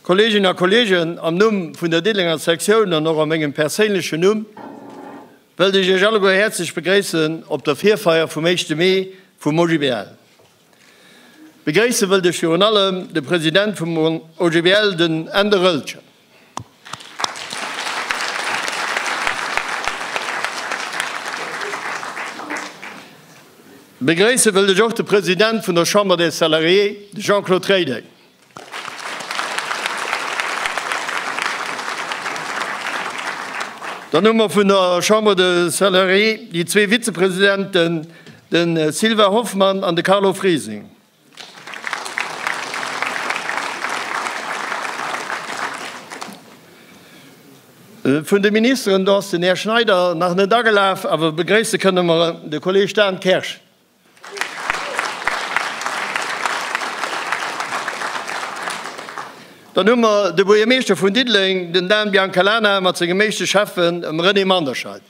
Kolleginnen a Kollegen, am Numm vun der Diddenger Sektioun an och a mengem perséinlechen Numm wëllt ech Iech alleguer häerzlech begréissen op der Virfeier vum 1. Mee vum OGBL. Begréisse wëllt ech virun allem de President vum OGBL, den Änder Oelcher. Begréisse wëllt ech och de President vun der Chambre des Salariés, de Jean-Claude Rédeng. Dann hu mer vun der Chambre de Salariés déi zwee Vizepresidenten, de Sylvain Hoffmann an de Carlo Friesing. Vun de Ministeren, do ass den Här Schneider nach net agelaf, awer begréisse kënne mer de Kolleeg Dan Kersch. Dann hu mer de Buergermeeschter vun Diddeleng, den Dan Biancalana mat sengem éischte Schäffen, dem René Manderscheid.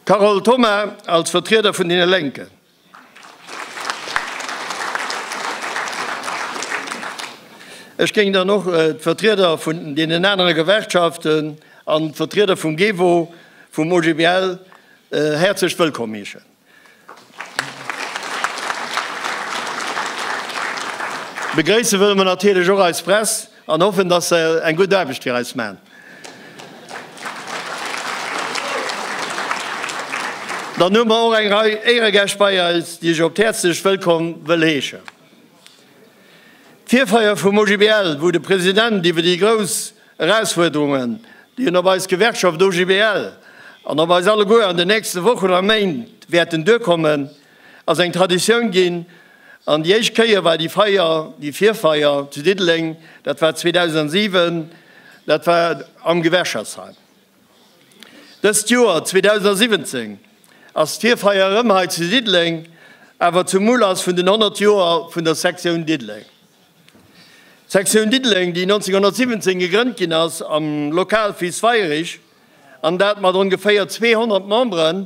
Carole Thoma als Vertrieder vun deene Lénken. Ech géing dann och d'Vertrieder vun deenen anere Gewerkschaften an d'Vertrieder vum GEWO, vum OGBL häerzlech wëllkomm heeschen. Begréisse wëlle mer natierlech och eis Press. An hoffen, dass se eng gutt Aarbecht fir eis maachen. Dann hu mer och eng Rei Éieregäscht bei eis, déi ech op d'häerzlechst wëllkomm wëll heeschen. D'Virfeier vum OGBL, wou de President iwwer déi grouss Erausfuerderungen, déi en op eis Gewerkschaft OGBL an op eis alleguer an den nächste Wochen a Méint wäerten duerkommen, ass eng Traditioun ginn. An déi éischt Kéier war déi Feier, déi Virfeier zu Diddeleng, dat war 2007, dat war am Gewerschaftsheim. Dëst Joer 2017 ass d'Virfeier erëm hei zu Diddeleng, awer zum Ulass vun den 100 Joer vun der Sektioun Diddeleng. D'Sektioun Diddeleng, déi 1917 gegrënnt ginn ass am Lokal Viz Weirich, an dat mat ongeféier 200 Memberen,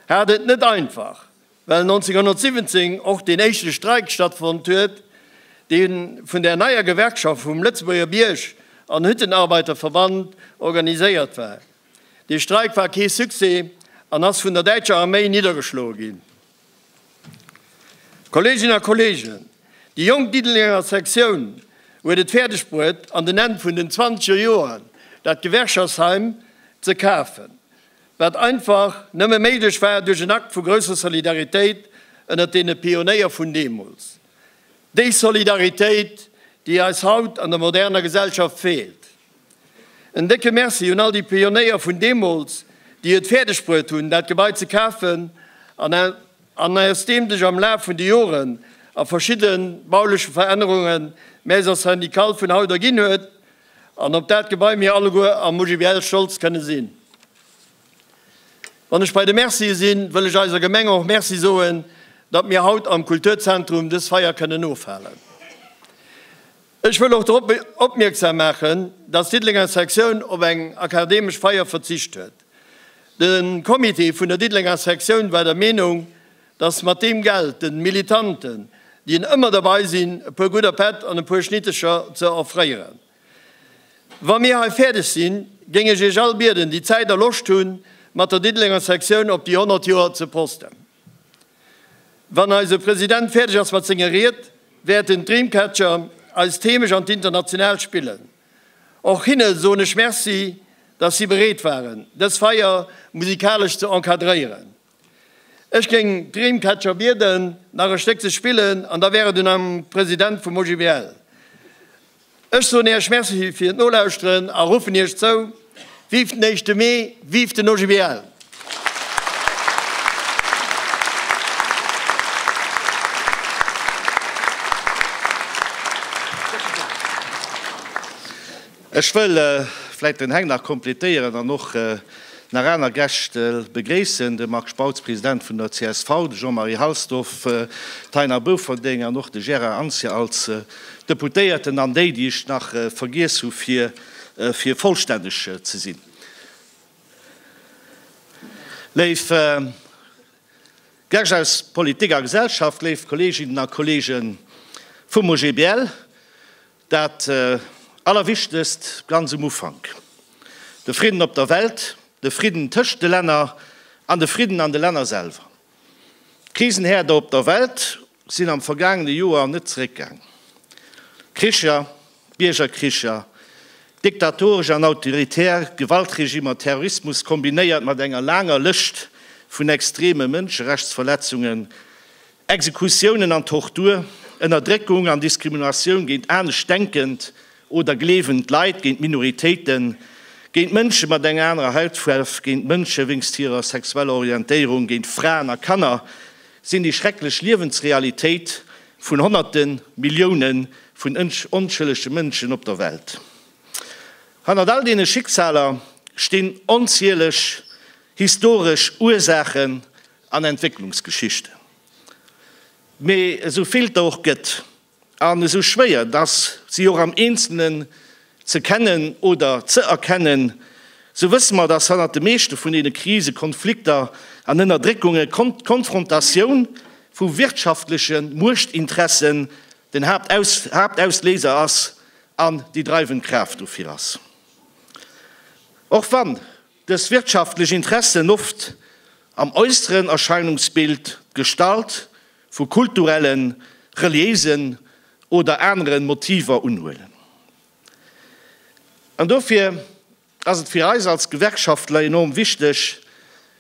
hat et net einfach, well 1917 och deen éischte Streik stattfonnt huet, dee vun der neier Gewerkschaft vum Lëtzebuerger Bierg an Hüttenarbeiterverband organiséiert war. Dee Streik war kee Succès an ass vun der däitscher Arméi niddergeschloe ginn. Kolleeginnen a Kolleegen, déi jonk Diddelenger Sektioun huet et fäerdeg bruet, an den Enn vun den zwanzeger Joren dat Gewerkschaftsheim ze kafen. wat einfach nëmme méiglech war duerch en Akt vu grousser Solidaritéit ënnert deene Pionéier vun deemools, déi Solidaritéit, déi eis haut an der moderner Gesellschaft feelt. En décke Merci un all déi Pionéier vun deemools, déi et fäerdegbruet hunn, dat Gebai ze kafen an aus deem sech am Laf vun de Joren a verschidde bauleche Verännerunge Maison syndicale vun haut erginn huet, An op dat Gebai mir alleguer am OGBL stolz kënne sinn. Wann ech bei de Mercie sinn, wëll ech eiser Gemeng och Merci soen, datt mir haut am Kulturzentrum dës Feier kënnen ofhalen. Ech wëll och drop opmierksam maachen, datt d'Diddelenger Sektioun op eng akademesch Feier verzicht huet. De Comité vun der Diddelenger Sektioun war der Meenung, Dass mat deem Geld den Militanten, déi en ëmmer derbei sinn, e puer gudder Pätt an e puer Schnittecher ze offréieren. Wa mir hei fäerdeg sinn, géing ech iech all bieden, déi Zäit a Loscht hunn, mat der Diddelenger Sektioun op déi 100 Joer ze posten. Wann eise President fäerdeg ass mat senger Ried, wäerten d'Dreamcatcher eis d'Heemecht an d'Internationaalt spillen. Och hinne soen ech Merci, dass si bereet waren, dës Feier musikalesch ze encadréieren. Ech géing d'Dreamcatcher bieden, nach e Stéck ze spillen, an da wär et un am President vum OGBL. Ech soen Iech Merci fir d'Nolauschteren a ruffen Iech zou, Vive den éischte Mee, vive den OGBL! Ech wëll vläit den Heng nach kompletéieren an och nach aner Gäscht begréissen, de Marc Spautz, President vun der csv, de Jean-Marie Halsdorf, d'Taina Bouferding an och de Gérard Anzia als Deputéierten an déi, déi ech nach vergiess hu fir vollstänneg ze sinn. Léif Gäscht aus Politik a Gesellschaft, léif Kolleeginnen a Kolleege vum OGBL, Dat Allerwichtegst ganz um Ufank, de Fridden op der Welt, de Fridden tëscht de Länner an de Fridden an de Länner selwer. D'Krisenhäerder op der Welt sinn am vergaangene Joer net zeréckgaang. Kricher, Biergerkricher, diktatoresch an autoritär Gewaltregimmer, Terrorismus kombinéiert mat enger laanger Lëscht vun extreme Mënscherechtsverletzungen, Exekutiounen an Tortur, Ënnerdréckung an Diskriminatioun géint anescht denkend oder gleewend Leit, géint Minoritéiten, géint Mënsche mat enger anerer Hautfuarf, géint Mënsche wéinst hirer sexueller Orientéierung, géint Fraen a Kanner, sinn déi schrecklech Liewensrealitéit vun Honnerten, Millioune vun onschëllege Mënschen op der Welt. Hannert all deene Schicksaler stinn onzieleg historesch Ursaachen An Entwécklungsgeschicht. Mee esou vill der och gëtt, an esou schwéier dass si och am Eenzelnen ze kennen oder ze erkennen, sou wësse mer, dass hannert de meeschte vun deene Krise, Konflikter an Ënnerdréckunge d'Konfrontatioun vu wirtschaftleche Muechtinteressen den Haaptausléiser ass an déi dreiwend Kraaft dofir ass. Och wann. Dës wirtschaftlech Interessen, oft am äusseren Erscheinungsbild d'Gestalt vu kulturellen, reliéisen oder aneren Motiver unhuelen. An dofir ass et fir eis als Gewerkschaftler enorm wichteg,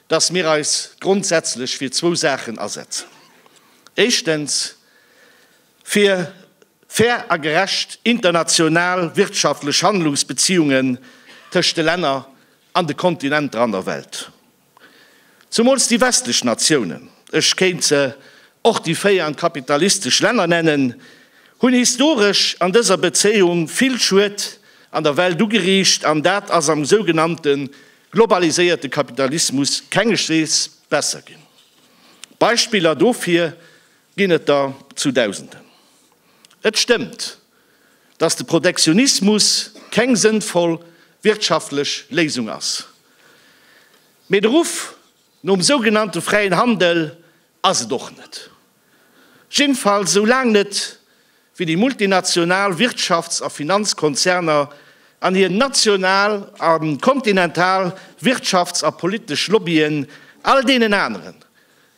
dass mir eis grondsätzlech fir zwou Saachen asetzen, éischtens, Fir fair a gerecht international wirtschaftlech Handlungsbeziungen tëscht de Länner an de Kontinenter an der Welt. Zumools déi westlech Natiounen, ech kéint se och déi véi an d'kapitalistesch Länner nennen, hunn historesch an dëser Bezéiung vill Schued an der Welt ugeriicht an dat ass am sougenannte globaliséierte Kapitalismus kengeschtwees besser ginn. Beispiller dofir Ginn et der zu Dausenden. Et stëmmt, datt de Protektionismus keng sënnvoll wirtschaftlech Léisung ass. Mee de Ruff nom sougenannte fräien Handel ass et och net. Jiddefalls esou laang net, wéi déi multinational Wirtschafts a Finanzkonzerner an hir national a kontinental Wirtschafts a politesch Lobbyen all deenen aneren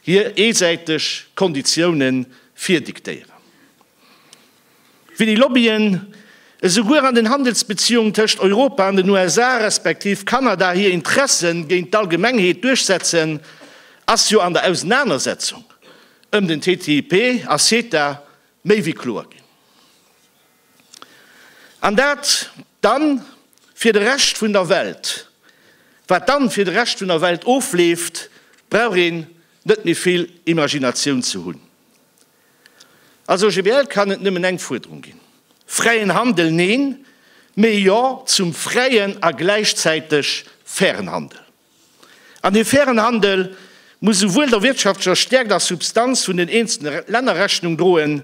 hir eesäiteg Konditiounen virdiktéieren, wéi déi Lobbyen esouguer an den Handelsbeziehungen tëscht Europa an den USA respektiv Kanada hir Interessen géint d'Allgemengheet duerchsetzen, ass jo an der Ausenanersetzung ëm den TTIP a CETA méi wéi kloer ginn. An dat dann fir de Rescht vun der Welt. Wat dann fir de Rescht vun der Welt ofleeft, brauch een net méi vill Imaginatioun ze hunn. Als OGBL kann et nëmmen eng Fuerderung ginn, Fräien Handel neen, mee Jo zum fräien a gläichzäiteg fairen Handel. An dee fairen Handel muss esouwuel der wirtschaftlecher Stäerkt a Substanz vun den eenzelne Länner Rechnung droen,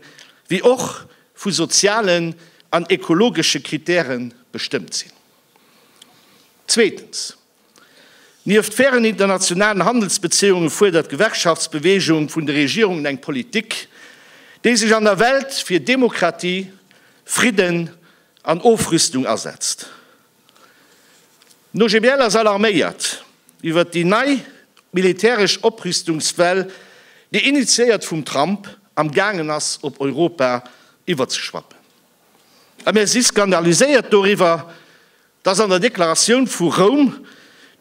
wéi och vu sozialen an ekologesche Kritäre bestëmmt sinn. Zweetens, Nieft fairen internationalen Handelsbezéiunge fuerdert d'Gewerkschaftsbewegung vun de Regierungen eng Politik, déi sech an der Welt fir Demokratie, Fridden an Ofrüstung asetzt. D'OGBL ass alarméiert iwwert déi nei militäresch Oprüstungswell, déi initiéiert vum Trump am gaangen ass op Europa iwwerzeschwappen. A mir si skandaliséiert doriwwer, datt an der Deklaratioun vu Roum,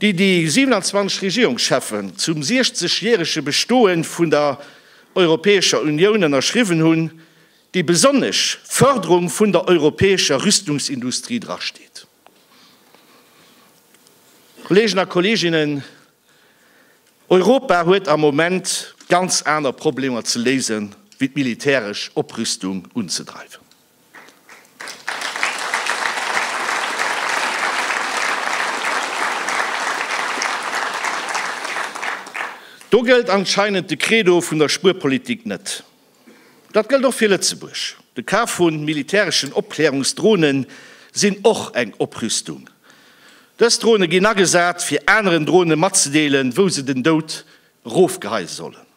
déi déi 27 Regierungscheffen zum 60 järege Bestoe vun der Europäescher Unioun ënnerschriwwen hunn, déi besonnesch Fërderung vun der europäescher Rüstungsindustrie drasteet. Kolleegen a Kolleeginnen, Europa huet am Moment ganz aner Problemer ze léisen, wéi d'militäresch Oprüstung unzedreiwen. Do gëllt anscheinend de Credo vun der Spuerpolitik net. Dat gëllt och fir Lëtzebuerg. De Kaf vu militäreschen Opklärungsdrone sinn och eng Oprüstung. Dës Drone ginn agesat, fir aneren Drone matzedeelen, wou se den Doud erofgeheie sollen.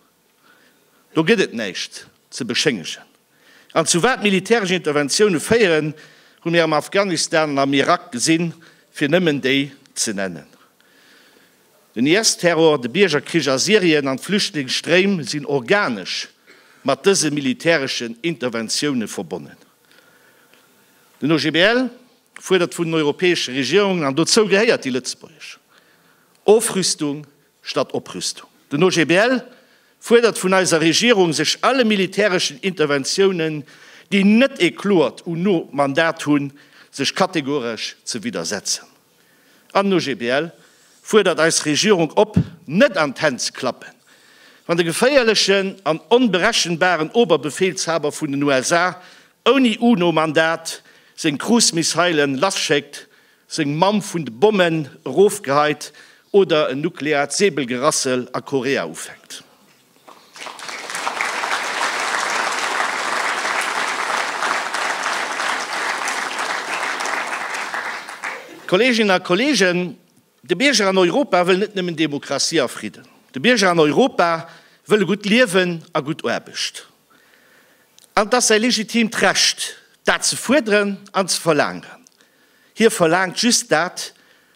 Do gëtt et näischt ze beschéngegen. An zu wat militäresch Interventioune féieren, hu mir am Afghanistan an am Irak gesinn, fir nëmmen déi ze nennen. Den IS-Terror, de Biergerkrich a Syrien an d'Flüchtlingsstréim sinn organesch mat dëse militäreschen Interventioune verbonnen. Den OGBL fuerdert vun den europäesche Regierungen, an dozou gehéiert déi lëtzebuergesch, Ofrüstung statt Oprüstung. Den OGBL fuerdert vun eiser Regierung, sech alle militäreschen Interventiounen, déi net ee kloert UNO-Mandat hunn, sech kategoresch ze widdersetzen. An OGBL fuerdert eis Regierung op, net an d'Hänn ze klappen, wann de geféierlechen an onberechenbaren Oberbefehlshaber vun den USA ouni UNO-Mandat seng Cruise-Missilen lasschéckt, seng Mamm vun de Bommen erofgeheit oder en nukleaart Säbelgerassel a Korea ufänkt. Kolleeginnen a Kolleegen, de Bierger an Europa wëll net nëmmen Demokratie a Fridden. De Bierger an Europa wëll e gutt Liewen a gutt Aarbecht. An et ass säi legitimt Recht, dat ze fuerderen an ze verlaangen. Hie verlaangt just dat,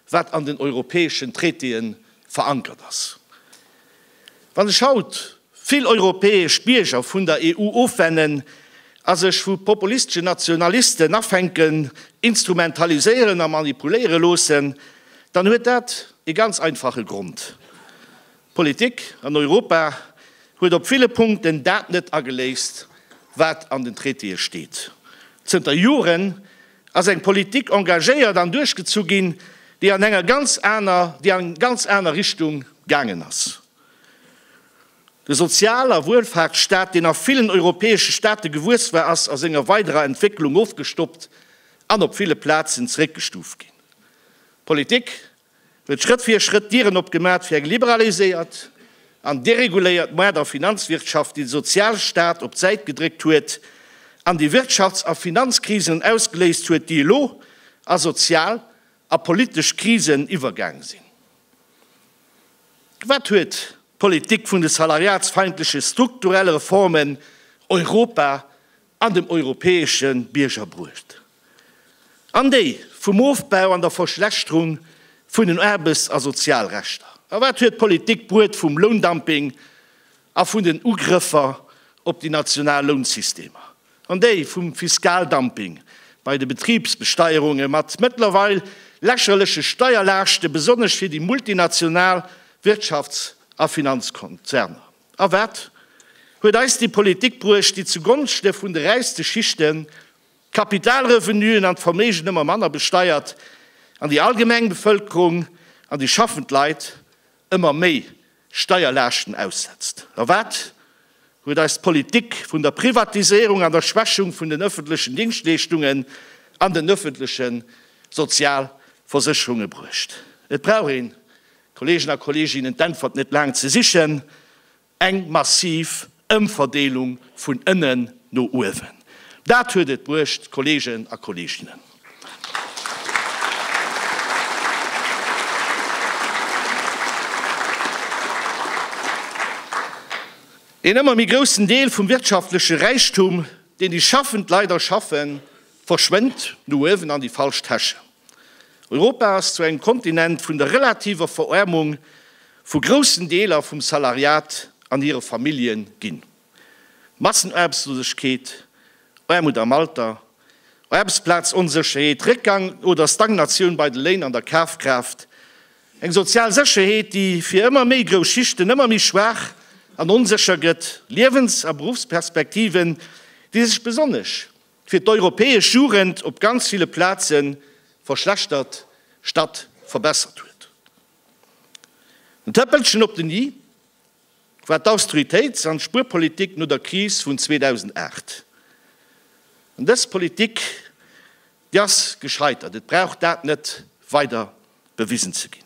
wat an den europäeschen Traitéë verankert ass. Wann sech haut vill europäesch Bierger vun der EU ofwennen a sech vu populisteschen Nationalisten afänken, instrumentaliséieren a manipuléiere loossen, dann huet dat ee ganz einfache Grond, D'Politik an Europa huet op ville Punkten dat net ageléist, wat an den Traitéë steet. Zënter Joren ass eng Politik engagéiert an duerchgezu ginn, déi an enger ganz aner, déi an eng ganz aner Richtung gaangen ass. De Sozial a Wuelfaartsstaat, deen a villen europäesche Staate gewuess war, ass a senger weiderer Entwécklung ofgestoppt an op ville Plazen zeréckgestuuft ginn. D'Politik huet Schrëtt fir Schrëtt d'Dieren opgemat fir eng liberaliséiert an dereguléiert Moard a Finanzwirtschaft, déi de Sozialstaat op d'Säit gedréckt huet an déi Wirtschafts a Finanzkrisen ausgeléist huet, déi elo a sozial a politesch Krisen iwwergaang sinn. Wat huet d'Politik vun de salariatsfeindleche strukturelle Reformen Europa an dem europäesche Bierger bruecht, an déi vum Ofbau an der Verschlechterung vun den Aarbechts a Sozialrechter? A wat huet d'Politik bruet vum Loundumping a vun den Ugrëffer op déi national Lounsystemer, an déi vum Fiskaldumping bei de Betribsbesteierunge mat mëttlerweil lächerleche Steierlaaschte besonnesch fir déi multinational Wirtschafts a Finanzkonzerner? A wat huet eis déi Politik bruecht, déi zugonschte vun de räichste Schichten d'Kapitalrevenuen an d'Verméigen ëmmer manner besteiert an déi allgemeng Bevëlkerung an déi schaffend Leit ëmmer méi Steierlaaschten aussetzt? A wat huet eis d'Politik vun der Privatiséierung an der Schwächung vun den ëffentlechen Dingschtleeschtungen an den ëffentleche Sozialversécherunge bruecht? Et brauch een Kolleegen a Kolleeginnen, d'Äntwert net laang ze sichen, eng massiv Ëmverdeelung vun ënnen no uewen. Dat huet et bruecht, Kolleegen a Kolleeginnen. Een ëmmer méi groussen Deel vum wirtschaftleche Räichtum, deen déi schaffend Leit erschaffen, verschwënnt no uewen an déi falsch Täschen. Europa ass zu engem Kontinent vun der relativer Veräermung vu groussen Deeler vum Salariat an hire Familljen ginn. Massenaarbechtslosegkeet, Aarmut am Alter, Aarbechtsplazonsécherheet, Réckgang oder Stagnatioun bei de Léin an der Kafkraaft, eng sozial Sécherheet, déi fir ëmmer méi grouss Schichten ëmmer méi schwaach an onsécher gëtt, Liewens a Beruffsperspektiven, déi sech besonnesch Fir d'europäesch Jugend op ganz ville Plaze verschlechtert statt verbessert huet. En Tëppelchen op den i war d'Austeritéits an d'Spuerpolitik no der Kris vun 2008. An dës Politik, déi ass gescheitert, et brauch dat net weider bewisen ze ginn.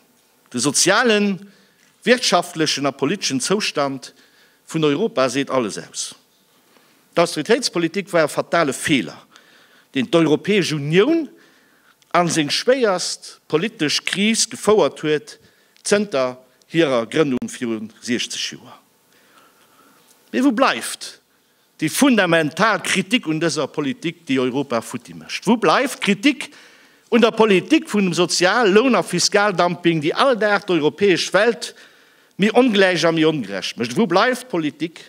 De sozialen, wirtschaftlechen a politeschen Zoustand vun Europa seet alles aus. D'austeritéitspolitik war e fatale Feeler, deen d'Europäesch Unioun a seng schwéierst politesch Kris gefouert huet zënter hirer Grënnung viru 60 Joer. Mee wou bleift déi fundamental Kritik un dëser Politik, déi Europa futti mécht? Wou bleift d'Kritik un der Politik vum Sozial-, Loun a Fiskaldumping, déi all Dag d'europäesch Welt méi ongläich a méi ongerecht mécht? Wou bleift d'Politik,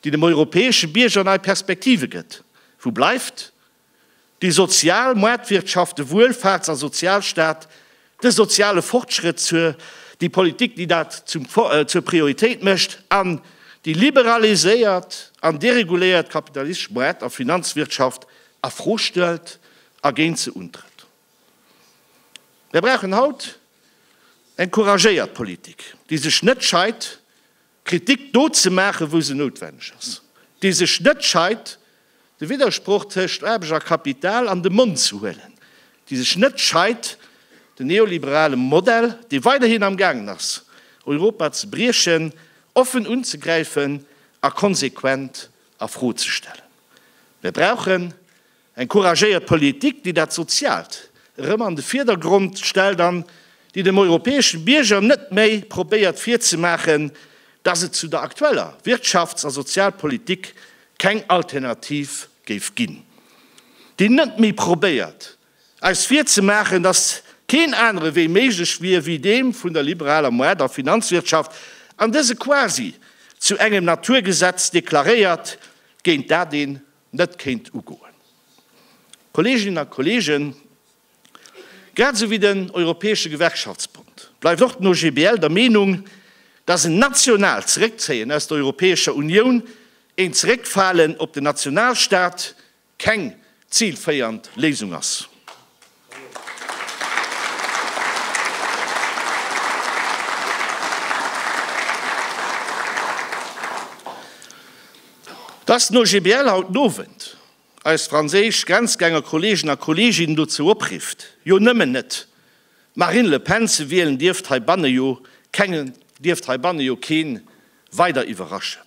déi dem europäesche Bierger nei Perspektive gëtt. Wou bleift déi sozial Maartwirtschaft, de Wuelfaarts a Sozialstaat, de soziale Fortschrëtt, déi Politik, déi dat zur Prioritéit mécht, an déi liberaliséiert an dereguléiert kapitalistesch Maart a Finanzwirtschaft a Fro stellt a géint se untrëtt? Mär brauchen haut eng couragéiert Politik, déi sech net scheit, Kritik do ze maachen, wou se noutwenneg ass, déi sech net scheit, de Widdersproch tëscht Aarbecht a Kapital an de Mond ze huelen, déi sech net scheit, den neoliberale Modell, dee weiderhin am gaangen ass, Europa ze briechen, offen unzegräifen a konsequent a Fro ze stellen. Mir brauchen. Eng couragéiert Politik, déi dat Soziaalt erëm an de Virdergrond stellt an déi dem europäesche Bierger net méi probéiert virzemaachen, dass et zu der aktueller Wirtschafts a Sozialpolitik keng Alternativ géif ginn. Déi net méi probéiert, eis virzemaachen, dass keen anere Wee méiglech wier wéi deem vun der liberaler Moardt a Finanzwirtschaft an dëse quasi zu engem Naturgesetz deklaréiert, géint dat een net kéint ugoen. Kolleeginnen a Kolleegen, grad esou wéi den Europäesche Gewerkschaftsbond bleift och den OGBL der Meenung, dass en nationaalt Zeréckzéien aus der Europäescher Unioun, een Zeréckfalen op den Nationalstaat, keng zilféiernd Léisung ass. Dass den OGBL haut den Owend eis franséisch Grenzgänger-Kollegen a Kolleginnen dozou oprifft, jo nëmmen net d'Marine Le Pen ze wielen, dierft heibanne jo keen weider iwwerraschen.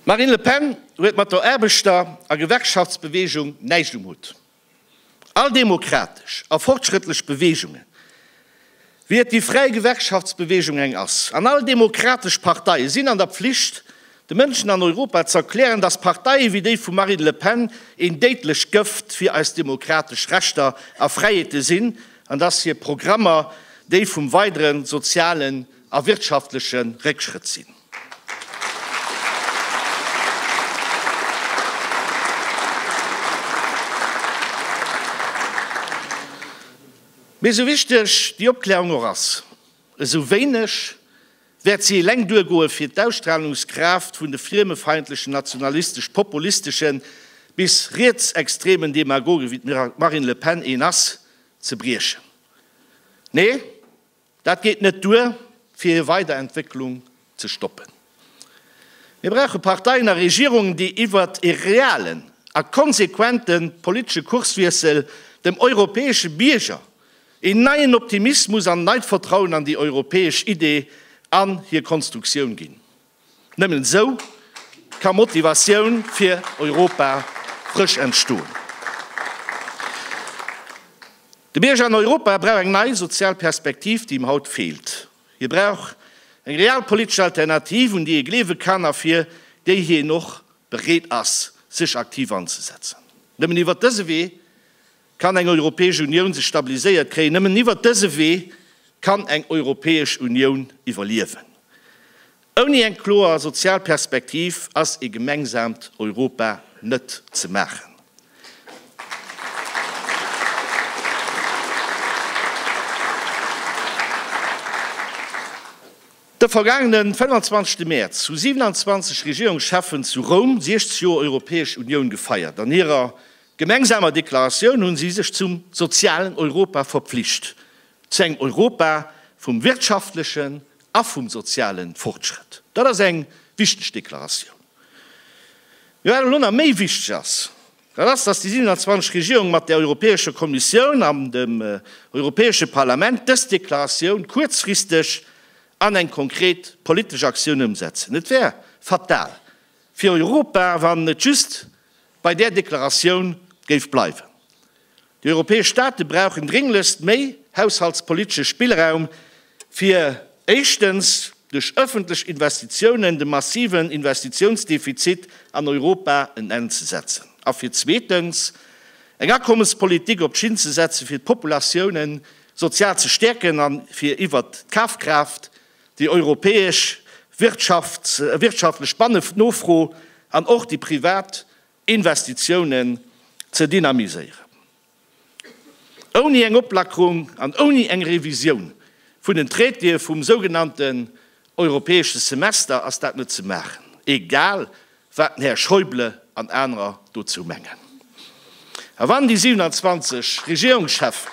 D'Marine Le Pen huet mat der Aarbechter a Gewerkschaftsbeweegung näischt um Hutt. All demokratesch a fortschrëttlech Beweegunge Wéi et déi fräi Gewerkschaftsbewegung eng ass, an all demokratesch Partei sinn an der Pflicht, de Mënschen an Europa z'erklären, datt Parteie wéi déi vum Marine Le Pen een déidlech Gëft fir eis demokratesch Rechter a Fräiheete sinn, an datt hir Programmer déi vum weidere sozialen a wirtschaftleche Réckschrëtt sinn. Mee esou wichteg déi Opklärung och ass, esou wéineg wäert si eleng duergoe fir d'Ausstrahlungskraaft vun de friemefeindlechen, nationalistesch-populisteschen bis rietsextremen Demagogen, wéi d'Marine Le Pen een ass, ze briechen. Nee, Dat geet net duer, fir hir weider Entwécklung ze stoppen. Mir brauche Parteien a Regierungen, déi iwwert e realen a konsequente politesche Kurswiessel dem europäesche Bierger een neien Optimismus an neit Vertrauen an déi europäesch Idee an hir Konstruktioun ginn. Nëmmen esou ka Motivatioun fir Europa frësch entstoen. De Bierger an Europa brauch eng nei sozial Perspektiv, déi him haut feelt. Hie brauch eng realpolitesch Alternativ, un déi hie gleewe kann a fir déi hien och bereet ass, sech aktiv anzesetzen. Nëmmen iwwert dëse Wee Kann eng Europäesch Unioun sech stabiliséiert kréien? Nëmmen iwwert dëse Wee kann eng Europäesch Unioun iwwerliewen. Ouni eng kloer sozial Perspektiv ass ee gemengsamt Europa net ze maachen. De vergaangene 25. Mäerz hu 27 Regierungscheffen zu Roum 60 Joer Europäesch Unioun gefeiert. An hirer gemengsamer Deklaratioun hunn si sech zum sozialen Europa verpflicht, zu engem Europa vum wirtschaftlechen a vum soziale Fortschrëtt. Dat ass eng wichteg Deklaratioun. Mee wat elo nach méi wichteg ass, dat ass, dass déi 27 Regierungen mat der Europäescher Kommissioun an dem Europäesche Parlament dës Deklaratioun kuerzfristeg an eng konkret politesch Aktioun ëmsetzen. Et wär fatal fir Europa, wann et just bei där Deklaratioun géif bleiwen. Déi europäesch Staate brauchen drénglechst méi haushaltspolitesche Spillraum, fir éischtens duerch ëffentlech Investitiounen dem massiven Investitiounsdefizit an Europa en Enn ze setzen a fir zweetens eng Akommespolitik op d'Schinn ze setzen, fir d'Populatioune sozial ze stäerken a fir iwwert d'Kafkraaft Déi europäesch wirtschaftlech Bannenofro an och déi privat Investitiounen ze dynamiséieren. Ouni eng Oplackerung an ouni eng Revisioun vun den Traitéë vum sougenannten europäesche Semester ass dat net ze maachen, egal wat den Här Schäuble an anerer dozou mengen. A wann déi 27 Regierungschefen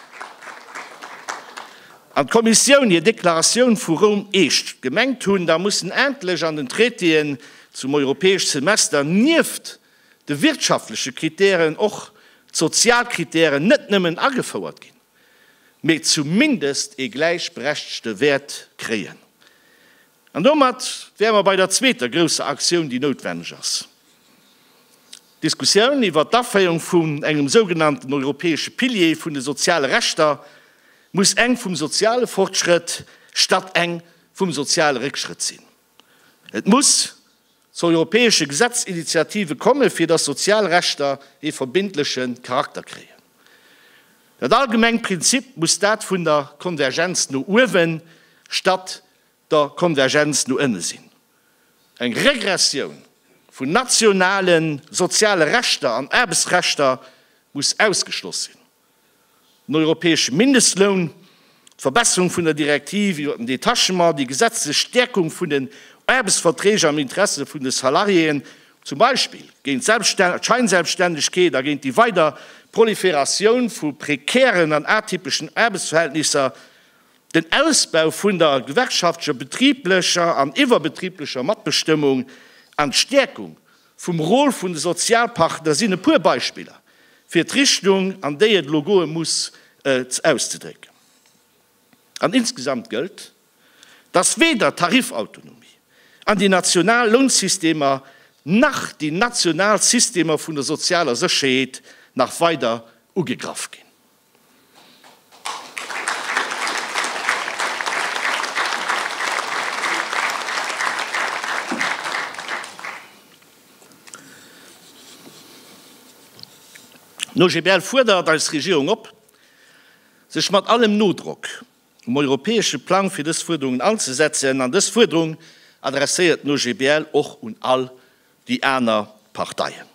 an d'Kommissioun hir Deklaratioun vu Roum I gemengt hunn, da mussen endlech an den Traitéen zum europäesch Semester nieft de wirtschaftleche Kritären och d'sozial Kritären net nëmmen agefouert ginn, mee zumindest ee gläichberechtgte Wäert kréien. An domat wäre mer bei der zweeter grousser Aktioun, déi noutwenneg ass, d'Diskussioun iwwert d'Aféierung vun engem sougenannten europäesche Pilier vun de soziale Rechter. Muss eng vum soziale Fortschrëtt statt eng vum soziale Réckschrëtt sinn? Et muss zu europäesche Gesetzesinitiative kommen, fir dass sozial Rechter ee verbindleche Charakter kréien. Dat allgemeng Prinzip muss dat vun der Konvergenz no uewen statt der Konvergenz no ënne sinn, eng Regressioun vun nationale soziale Rechter an Aarbechtsrechter muss ausgeschloss sinn, den europäesche Mindestloun, d'Verbesserung vun der Direktiv iwwert den Detachement, déi gesetzlech Stäerkung vun den Aarbechtsverträg am Interesse vun de Salariéen, zum Beispill géint d'Scheinselbstännegkeet a géint déi weider Proliferatioun vu prekären an atypeschen Aarbechtsverhältnisser, Den Ausbau vun der gewerkschaftlecher, betriblecher an iwwerbetriblecher Matbestëmmung an d'Stäerkung vum Rôle vun de Sozialpartner sinn e puer Beispiller, fir d'Richtung, an déi et elo goe muss, auszedrécken. An insgesamt gëllt, dass weder d'Tarifautonomie an déi national Lounsystemer nach déi national Systemer vun der sozialer Sécherheet nach weider ugegraff ginn. D'Nogebel fuerdert eis Regierung op, sech mat allem Nodrock um europäesche Plang fir dës Fuerderungen anzesetzen. An dës Fuerderung adresséiert d'Nogebel och un all déi aner Parteien.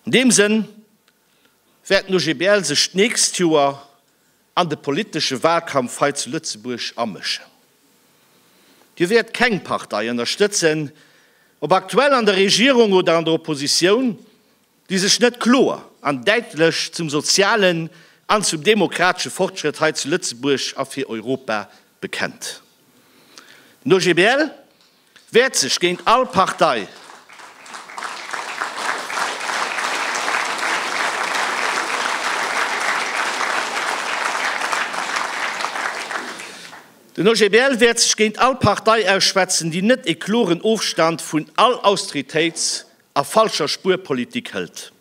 An deem Sënn wäert den OGBL sech d'nächst Joer an de politesche Wahlkampf hei zu Lëtzebuerg amëschen. Dir wäert keng Partei ënnerstëtzen, ob aktuell an der Regierung oder an der Oppositioun, déi sech net kloer an däitlech zum sozialen an zum demokratesche Fortschrëtt hei zu Lëtzebuerg a fir Europa bekennt. Den OGBL Wäert sech géint all Partei. Den OGBL wäert sech géint all Partei ausschwätzen, déi net ee kloren Ofstand vun all Austeritéits a falscher Spuerpolitik hëlt.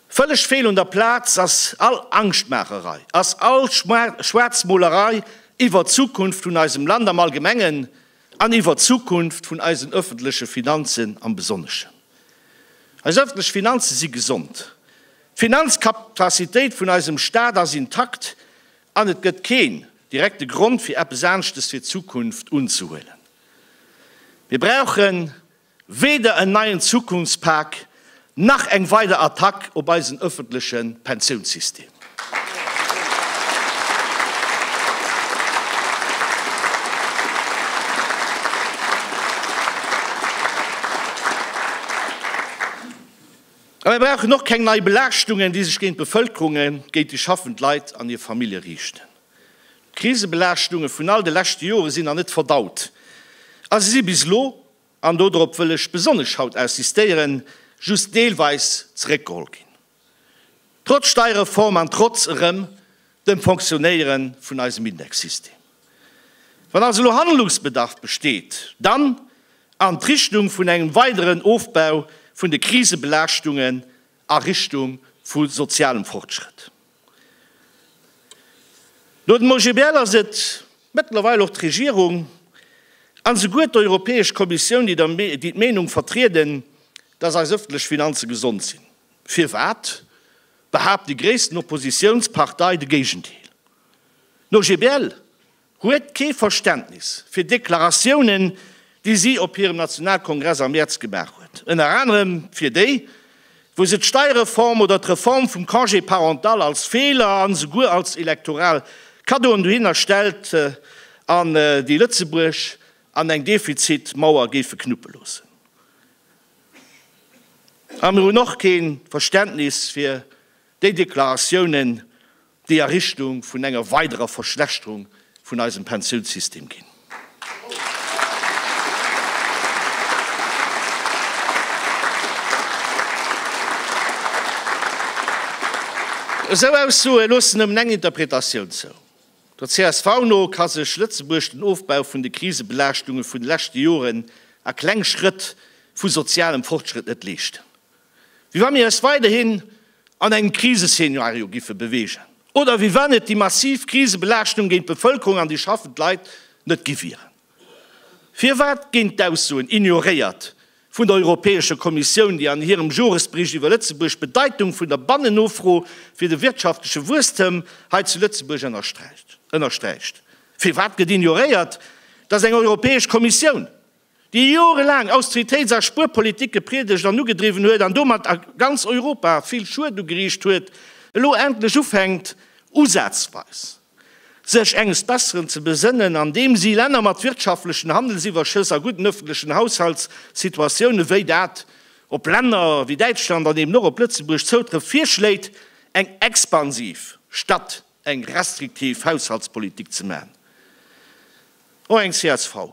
Vëlleg fehl un der Plaz, ass all Angschtmaacherei, ass all Schwaarzmolerei iwwert d'Zukunft vun eisem Land am Allgemengen an iwwert d'Zukunft vun eisen öffentleche Finanzen am Besonneschen. Eis öffentlech Finanze si gesond, d'Finanzkapazitéit vun eisem Staat ass intakt an et gëtt keen direkte Grond, fir eppes Aanschtes fir d'Zukunft unzehuelen. Mir brauchen Weder en neien Zukunftspak, nach eng weider Attack op eisen ëffentleche Pensiounssystem. A mir brauchen och keng nei Belaaschtungen, déi sech géint d'Bevëlkerung, géint déi schaffend Leit an hir Famillje riichten. D'Krisebelaaschtungen vun all de leschte Jore sinn nach net verdaut a se si bis elo an dodrop wëll ech besonnesch haut insistéieren, just deelweis zeréckgeholl ginn, trotz Steierreform an trotz erëm dem Fonctionéiere vun eisem Indexsystem. Wann also elo Handlungsbedarf besteet, dann an d'Richtung vun engem weideren Ofbau vun de Krisebelaaschtungen a Richtung vu sozialem Fortschrëtt. No dem OGBL ass et mëttlerweil och d'Regierung an esouguer d'Europäesch Kommissioun, déi d'Meenung vertrieden, dass eis ëffentlech Finanze gesond sinn. Firwat behaapt déi gréissten Oppositiounspartei de Géigendeel? Den OGBL? huet kee Verständnis fir Deklaratiounen, déi si op hirem Nationalkongress am Mäerz gemaach huet, ënner anerem fir déi, wou se d'Steierreform oder d'Reform vum Congé parental als Feeler an esouguer als elektoral Kaddoen dohinner stellt an déi Lëtzebuerg an eng Defizitmauer géife knuppe loossen. A mir hunn och kee Verständnis fir déi Deklaratiounen, déi a Richtung vun enger weiderer Verschlechterung vun eisem Pensiounssystem ginn. Esou Aussoe loossen nëmmen eng Interpretatioun zou. Der csv no ka sech Lëtzebuerg den Ofbau vun de Krisebelaaschtunge vun de leschte Joren a kleng Schrëtt vu sozialem Fortschrëtt net leeschten. Wéi wa mir eis weiderhin an engem Kriseszenario géife beweegen oder wéi wann et déi massiv Krisebelaaschtung géint d'Bevëlkerung an déi schaffend Leit net gi wieren. Firwat ginn d'Aussoen ignoréiert vun der Europäescher Kommissioun, déi an hirem Joresbericht iwwer Lëtzebuerg d'Bedeitung vun der Bannennofro fir de wirtschaftleche Wuesstem hei zu Lëtzebuerg ënnersträicht? Firwat gëtt ignoréiert, dass eng Europäesch Kommissioun, déi jorelaang Austeritéits a Spuerpolitik gepriedegt an ugedriwwen huet an domat a ganz Europa vill Schued ugeriicht huet, elo endlech ufänkt, usazweis sech enges Besseren ze besënnen, andeem si Länner mat wirtschaftlechen Handelsiwwerschëss a gudden öffentlechen Haushaltssituatiounen, wéi dat op Länner wéi Däitschland an eben och op Lëtzebuerg zoutrëfft, virschléit, eng expansiv statt eng restriktiv Haushaltspolitik ze maachen. Och eng csv.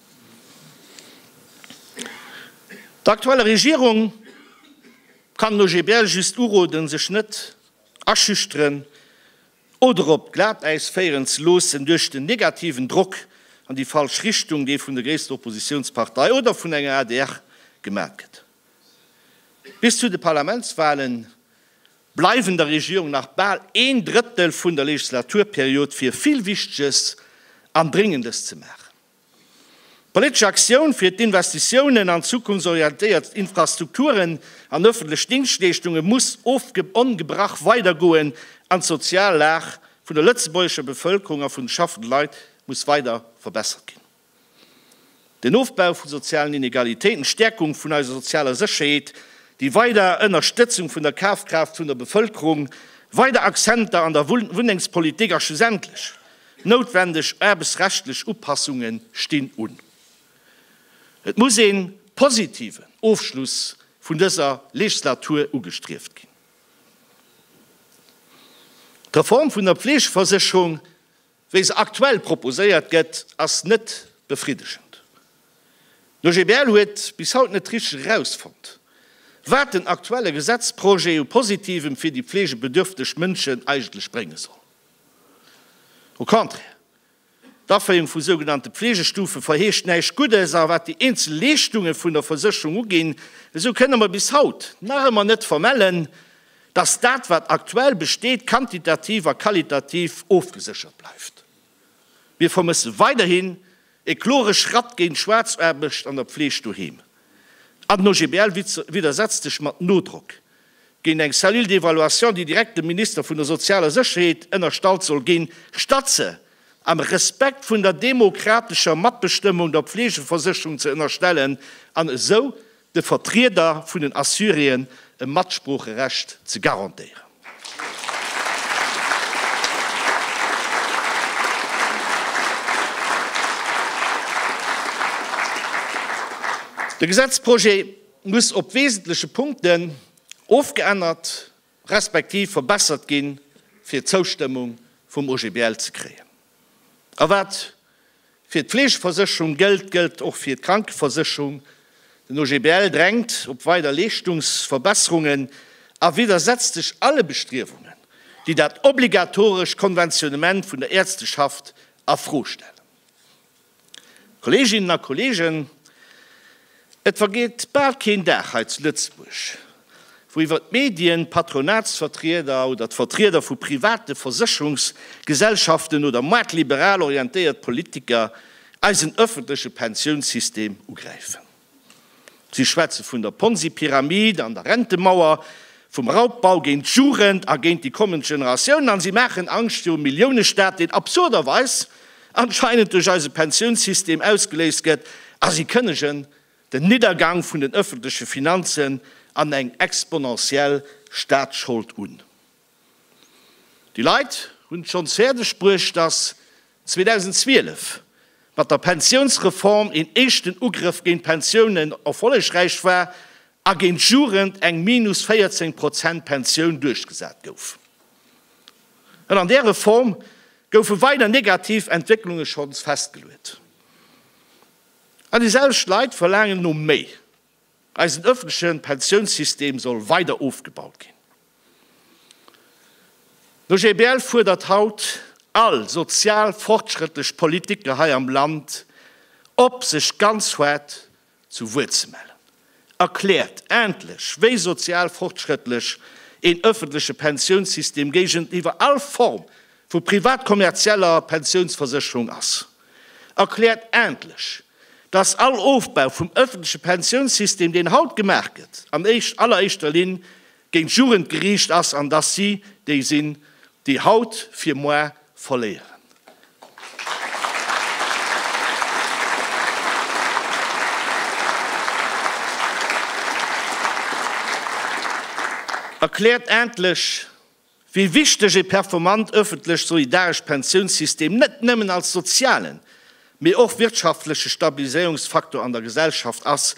Der aktueller Regierung kann den OGBL just uroden, sech net aschüchteren oder op d'Glatäis féieren ze loossen duerch den negativen Drock an déi falsch Richtung, dee vun der gréisster Oppositiounspartei oder vun enger adr gemat gëtt. Bis zu de Parlamentswahle bleiwen der Regierung nach bal een Drëttel vun der Legislaturperiod, fir vill Wichteges an Dréngendes ze maachen. D'politesch Aktioun fir d'Investitiounen an zukunftsorientéiert Infrastrukturen an ëffentlech Dingschtleeschtunge muss ongebrach weidergoen an d'sozial Lag vun der lëtzebuergescher Bevëlkerung a vun de schaffende Leit muss weider verbessert ginn. Den Ofbau vu sozialen Inegalitéiten, d'Stäerkung vun eiser sozialer Sécherheet, déi weider Ënnerstëtzung vun der Kafkraaft vun der Bevëlkerung, weider Accenter an der Wunnengspolitik a schlussendlech Noutwendeg aarbechtsrechtlech Upassunge stinn un. Et muss ee positiven Ofschluss vun dëser Legislatur ugestrieft ginn. D'Reform vun der Fleegeversécherung, wéi se aktuell proposéiert gëtt, ass net befriddegend. De GBL huet bis haut net richteg erausfonnt, wat den aktuelle Gesetzprojet u Positivem fir déi fleegebedürfteg Mënschen eigentlech brénge soll. Au contraire, d'Aféierung vu sougenannte Pflegestufe verheescht näischt Guddes, a wat déi eenzel Leeschtunge vun der Versécherung uginn, esou kënne mer bis haut nach ëmmer net vermellen, dass dat wat aktuell besteet quantitativ a qualitativ ofgeséchert bleift. Mir vermësse weiderhin E klore Schratt géint d'Schwaarzaarbecht an der Fleeg doheem. An den OGBL widdersetzt sech mat Nodrock géint eng Cellule d'évaluation, déi direkt dem Minister vun der sozialer Sécherheet ënnerstallt soll ginn, statt se am Respekt vun der demokratescher Matbestëmmung der Fleegeversécherung ze ënnerstellen an esou de Vertrieder vun den Assuréen e Matsproocherecht ze garantéieren. De Gesetzprojet muss op wesentleche Punkten ofgeännert respektiv verbessert ginn, fir d'Zoustëmmung vum OGBL ze kréien. A wat fir d'Fleegeversécherung gëllt, gëllt och fir d'Krankeversécherung, Den OGBL drängt op weider Leeschtungsverbesserungen a widdersetzt sech alle Bestriewungen, déi dat obligatorescht Konventionnement vun der Äerzteschaft a Fro stellen. Kolleeginnen a Kolleegen, et vergeet bal keen Dag hei zu Lëtzebuerg, wou iwwer d'Medien, d'Patronatsvertrieder oder d'Vertrieder vu private Versécherungsgesellschaften oder maart-liberal orientéiert Politiker eisen ëffentleche Pensiounssystem ugräifen. Si schwätze vun der Ponzi-Pyramid an der Rentemauer, vum Raubbau géint d'Jugend a géint déi kommend Generatiounen an si maachen Angscht virum Milliounestaat, deen absurderweis anscheinend duerch eise Pensiounssystem ausgeléist gëtt a si kënnegen den Niddergang vun den ëffentleche Finanzen an eng exponentiell Staatsschold un. Déi Leit hunn et schonns fäerdeg bruecht, datt 2012 mat der Pensiounsreform een éischten Ugrëff géint d'Pensiounen erfollegräich war a géint d'Jugend eng minus 14 Prozent Pensioun duerchgesat gouf. An an där Reform goufe weider negativ Entwécklunge schonns festgeluet. An déi selwecht Leit verlaangen elo méi. Eisen ëffentleche Pensiounssystem soll weider ofgebaut ginn. D'OGBL fuerdert haut all sozial fortschrëttlech Politiker hei am Land op, sech ganz hart zu Wuert ze mellen. Erkläert endlech, wéi sozial fortschrëttlech een ëffentleche Pensiounssystem géigeniwwer all Form vu privat-kommerzieller Pensiounsversécherung ass. erkläert endlech, dass all Ofbau vum öffentleche Pensiounssystem, deen haut gemaach gëtt, an alleréischter Linn géint d'Jugend geriicht ass an dass si déi sinn, déi haut fir moar verléieren. Erkläert endlech, wéi wichteg e performant ëffentlech solidarescht Pensiounssystem net nëmmen als sozialen, mee och wirtschaftleche Stabiliséierungsfaktor an der Gesellschaft ass,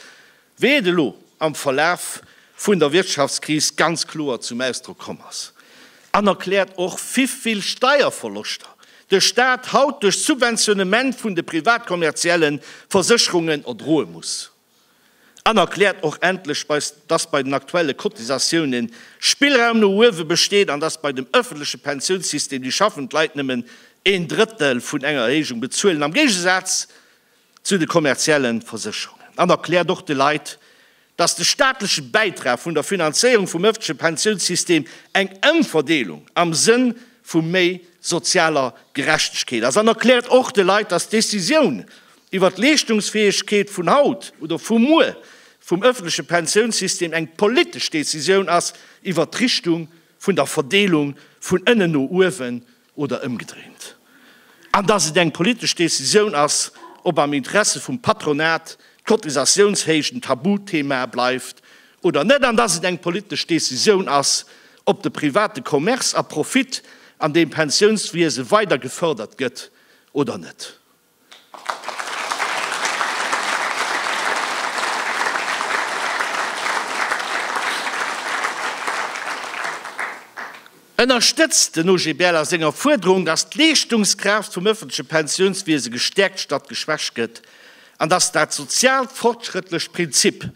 wéi et elo am Verlaf vun der Wirtschaftskris ganz kloer zum Ausdrock komm ass, an erkläert och wivill Steierverloschter de Staat haut duerch Subventionnement vun de privat-kommerzielle Versécherungen erdroe muss. An erkläert och endlech, dass bei den aktuelle Cotisatiounen Spillraum no uewe besteet an dass bei dem ëffentleche Pensiounssystem déi schaffend Leit nëmmen een Drëttel vun enger Erhéijung bezuelen, am Géigesaz zu de kommerzielle Versécherungen. An erkläert och de Leit, dass de staatleche Bäitrag vun der Finanzéierung vum ëffentleche Pensiounssystem eng Ëmverdeelung am Sënn vu méi sozialer Gerechtegkeet ass. An erkläert och de Leit, dass d'Decisioun, iwwert d'Leeschtungsfäegkeet vun haut oder vu muer vum ëffentleche Pensiounssystem eng politesch Decisioun ass iwwert d'Richtung vun der Verdeelung vun ënnen no uewen oder ëmgedréint, an dass et eng politesch Decisioun ass, ob am Interesse vum Patronat d'Cotisatiounshéicht en Tabuthema bleift oder net an dass et eng politesch Decisioun ass, ob de private Commerce a Profit an deem Pensiounswiese weider gefërdert gëtt oder net. Ënnerstëtzt den OGBL a senger Fuerderung, datt d'Leeschtungskraaft vum ëffentleche Pensiounswiese gestäerkt statt geschwächt gëtt an datt dat soziaalt fortschrëttlecht Prinzip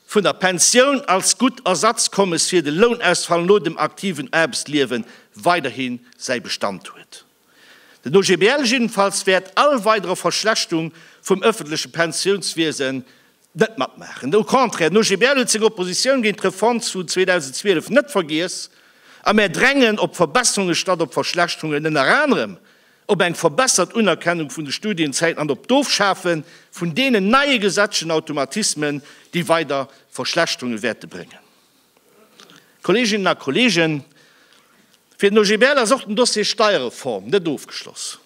vun der Pensioun als gutt Ersatzkommes fir de Lounausfall no dem aktiven Aarbechtsliewe weiderhi säi Bestand huet. Den OGBL jiddefalls wäert all weidere Verschlechtung vum ëffentleche Pensiounswiesen net matmaachen. Au contraire, den OGBL huet seng Oppositioun géint d'Reform vu 2012 net vergiess a mär drängen op Verbesserunge statt op Verschlechterungen, ënner anerem op eng verbessert Unerkennung vun de Studienzäiten an op d'Ofschafe vun deenen neie gesetzlechen Automatismen, déi weider Verschlechterunge wäerte bréngen. Kolleeginnen a Kolleegen, fir den OGBL ass och den Dossier Steierreform net ofgeschloss.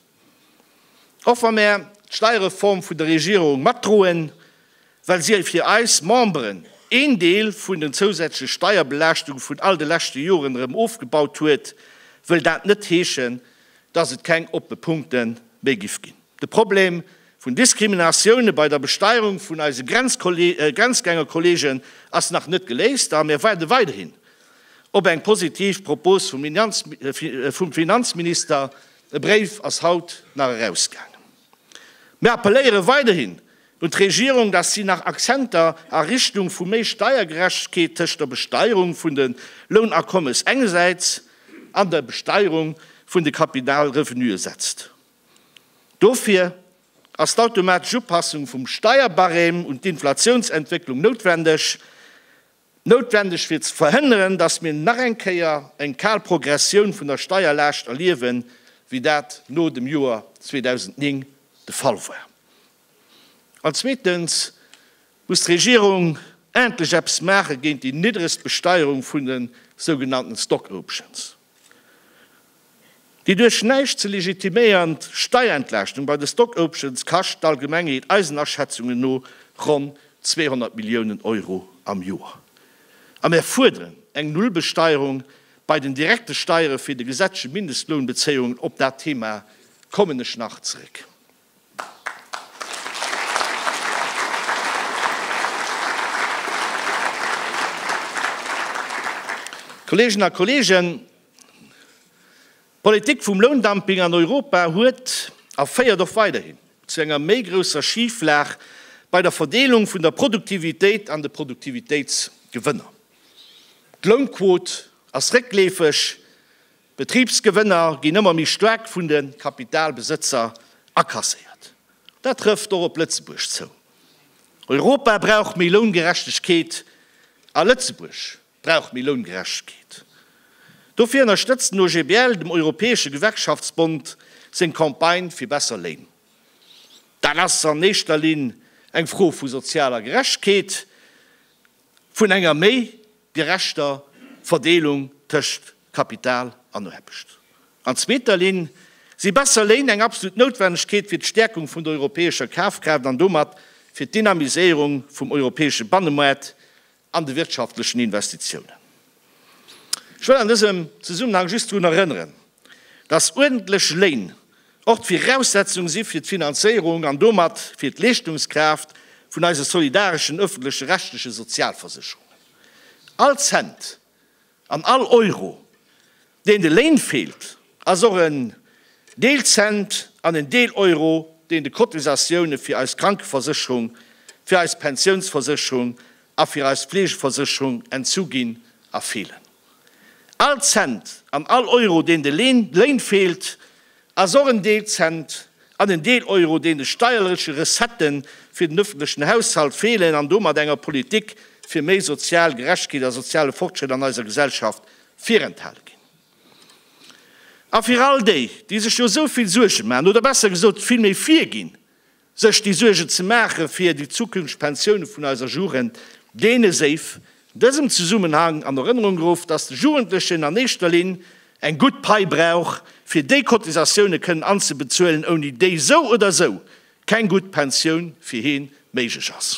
Och wa mär d'Steierreform vun der Regierung matdroen, well si fir eis Memberen een Deel vun den zousätzleche Steierbelaaschtunge vun all de leschte Joren erëm ofgebaut huet, wëll dat net heeschen, dass et keng oppe Punkte méi giff ginn. De Problem vun Diskriminatioune bei der Besteierung vun eise Grenzgängerkolleegen ass nach net geléist a mir waarde weiderhin op eng positiv Propos vum Finanzminister. E Bréif ass haut nach erausgaangen. Mir appelléiere weiderhin un d'Regierung, datt si nach Akzenter a Richtung vu méi Steiergerechtegkeet tëscht der Besteierung vun de Lounakommes engesäits an der Besteierung vun de Kapitalrevenuë setzt. Dofir ass d'automatesch Upassung vum Steierbarème un d'Inflatiounsentwécklung noutwendeg, noutwendeg fir ze verhënneren, datt mir nach eng Kéier eng kal Progressioun vun der Steierlaascht erliewen, wéi dat no dem Joer 2009 de Fall war. An zweetens muss d'Regierung endlech eppes maache géint déi niddregst Besteierung vun de sougenannten Stock Options. Déi duerch näischt ze legitiméiernd Steierentlaaschtung bei de Stock Options kascht d'Allgemengheet eisen Aschätzungen no ronn 200 Milliounen Euro am Joer. A mir fuerderen eng Nullbesteierung bei den direkte Steiere fir de gesetzleche Mindestlounbezéiungen, op dat Thema kommen ech nach zeréck. Kolleegen a Kolleegen, d'Politik vum Loundumping an Europa huet a féiert och weiderhin zu enger méi grousser Schiflag bei der Verdeelung vun der Produktivitéit an de Produktivitéitsgewënner. D'Lounquot ass réckleefeg. D'Betribsgewënner ginn ëmmer méi staark vun de Kapitalbesëtzer akasséiert. Dat trëfft och op Lëtzebuerg zou. Europa brauch méi Loungerechtegkeet a Lëtzebuerg brauch méi Loungerechtegkeet. Dofir ënnerstëtzt den OGBL dem Europäesche Gewerkschaftsbond seng Campagne fir besser Léin. Dat ass an éischter Linn eng Fro vu sozialer Gerechtkeet. vun enger méi gerechter Verdeelung tëscht Kapital an Aarbecht. An zweeter Linn si besser Léin eng absolut Noutwennegkeet fir d'Stäerkung vun der europäescher Kafkraaft an domat fir d'Dynamiséierung vum europäesche Bannemaart an de wirtschaftlechen Investitiounen. Ech wëll an dësem Zesummenhang just drun erënneren, dass uerdentlech Léin och d'Viraussetzung si fir d'Finanzéierung an domat fir d'Leeschtungskraaft vun eise solidareschen ëffentlech-rechtleche Sozialversécherungen. All Cent an all Euro, deen de Léin feelt, ass och en Deel Cent an en Deel Euro, deen de Cotisatioune fir eis Krankeversécherung, fir eis Pensiounsversécherung a fir eis Fleegeversécherung entzu ginn a feelen. All Cent an all Euro, deen de Léin feelt, ass och en Deel Cent an en Deel Euro, deen de steierleche Recettë fir den ëffentlechen Haushalt feelen an domat enger Politik fir méi sozial Gerechtegkeet a soziale Fortschrëtt an eiser Gesellschaft virenthale ginn. A fir all déi, déi sech jo esou vill Suerge maachen, oder besser gesot, vill méi virginn, Sech déi Suergen ze maache fir déi zukünfteg Pensioune vun eiser Jugend, deene séif an dësem Zesummenhang an Erënnerung geruff, datt de Jugendlechen an éischter Linn eng gutt Pai brauch, fir déi Cotisatioune kënnen anzebezuelen, ouni déi esou oder esou keng gutt Pensioun fir hien méiglech ass.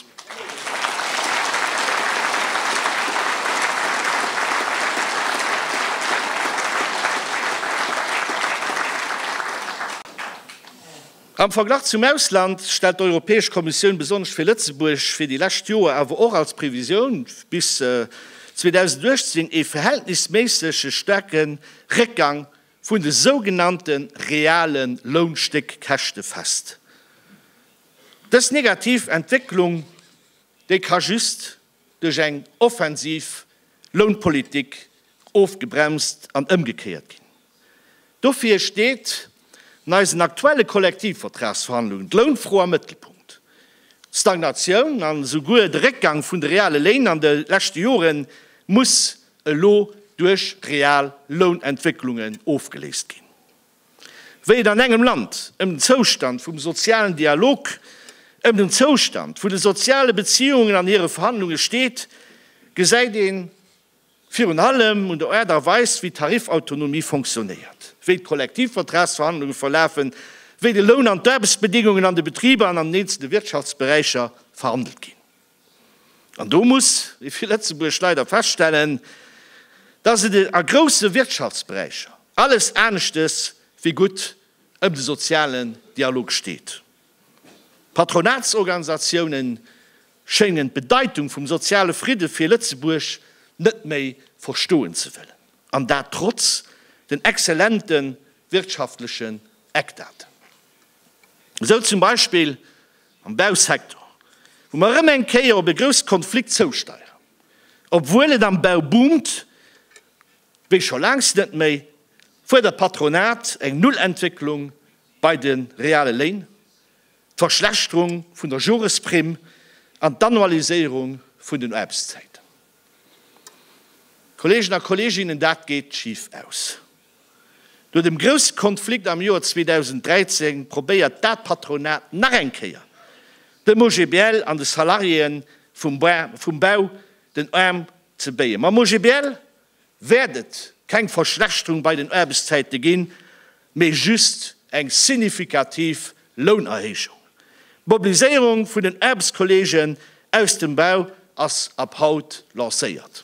Am Verglach zum Ausland stellt d'Europäesch Kommissioun besonnesch fir Lëtzebuerg fir déi lescht Joer awer och als Previsioun bis 2018 ee verhältnisméissege staarke Réckgang vun de sougenannte reale Lounstéckkäschte fest. Dës negativ Entwécklung, déi ka just duerch eng offensiv Lounpolitik ofgebremst an ëmgekéiert ginn. Dofir steet an eisen aktuelle Kollektivvertragsverhandlungen d'Lounfro am Mëttelpunkt. D'Stagnatioun an esouguer de Réckgang vun de reale Léin an de leschte Jore muss elo duerch real Lounentwécklungen ofgeléist ginn. Wéi et an engem Land ëm den Zoustand vum sozialen Dialog, ëm den Zoustand vun de soziale Beziungen an hire Verhandlunge steet, gesäit een, Virun allem un der Aart a Weis, wéi d'Tarifautonomie fonctionnéiert, wéi d'Kollektivvertragsverhandlunge verlafen, wéi de Loun an d'Aarbechtsbedingungen an de Betriber an an den eenzelne Wirtschaftsberäicher verhandelt ginn. An do muss ee fir Lëtzebuerg leider feststellen, dass et a grousse Wirtschaftsberäicher alles aneschtes wéi gutt ëm de sozialen Dialog steet. D'Patronatsorganisatiounen schéngen d'Bedeitung vum soziale Fridde fir Lëtzebuerg net méi verstoen ze wëllen, an dat trotz den exzellente wirtschaftlechen Eckdaten. Esou zum Beispill am Bausektor, wou mer erëm eng Kéier op e grousst Konflikt zousteieren, obwuel et am Bau boomt wéi scho laangs net méi, fuerdert d'Patronat eng Nullentwécklung bei de reale Léin, d'Verschlechterung vun der Joresprimm an d'Annualiséierung vun den Aarbechtszäiten. Kolleegen a Kolleeginnen, dat geet schif aus! No dem grousse Konflikt am Joer 2013 probéiert dat Patronat nach eng Kéier, dem OGBL an de Salariéeë vum Bau den Aarm ze béien. Mam OGBL wäert et keng Verschlechterung bei den Aarbechtszäite ginn, mee just eng signifikativ Lounerhéijung. D'Mobiliséierung vun den Aarbechtskolleegen aus dem Bau ass ab haut lancéiert.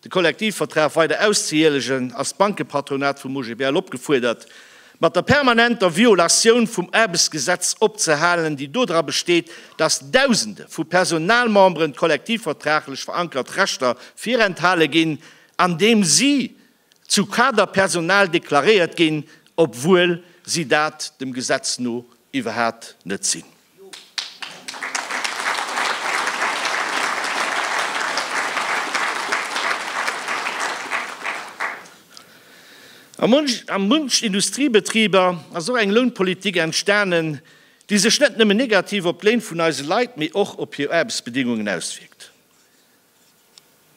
De Kollektivvertrag weider auszehielegen, ass d'Bankepatronat vum OGBL opgefuerdert, mat der permanenter Violatioun vum Aarbechtsgesetz opzehalen, déi dodra besteet, datt Dausende vu Personalmemberen d'kollektivvertraglech verankert Rechter virenthale ginn, andeem si zu Kaderpersonal deklaréiert ginn, obwuel si dat dem Gesetz no iwwerhat net sinn. A munch Industriebetriber ass och eng Lounpolitik entstanen, déi sech net nëmmen negativ op d'Léin vun eise Leit, mee och op hir Aarbechtsbedingungen auswierkt.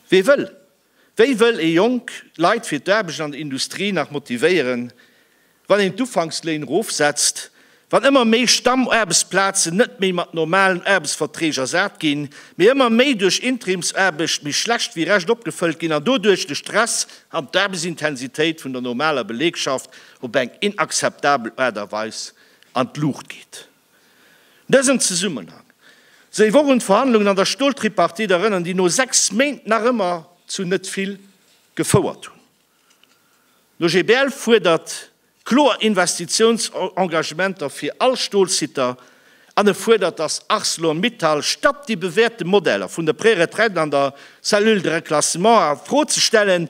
Wee wëll Wéi wëll ee jonk Leit fir d'Aarbecht an der Industrie nach motivéieren, wann een d'Ufanksléin erofsetzt, wann ëmmer méi Stammaarbechtsplazen net méi mat normalen Aarbechtsverträg ersat ginn, mee ëmmer méi duerch Interimsaarbecht méi schlecht wéi recht opgefëllt ginn an doduerch de Stress an d'Aarbechtsintensitéit vun der normaler Belegschaft op eng inakzeptabel Aart a Weis an d'Luucht geet? Dësen Zesummenhang séif och un d'Verhandlungen an der Stoltripartite erënnern, déi no 6 Méint nach ëmmer zu net vill gefouert hunn. D'OGBL fuerdert kloer Investitiounsengagementer fir all Stolsitter an e fuerdert, datt Arcelor Mittal stappt, déi bewäerte Modeller vun der Préretraite an der Cellule de reclassement a Fro ze stellen,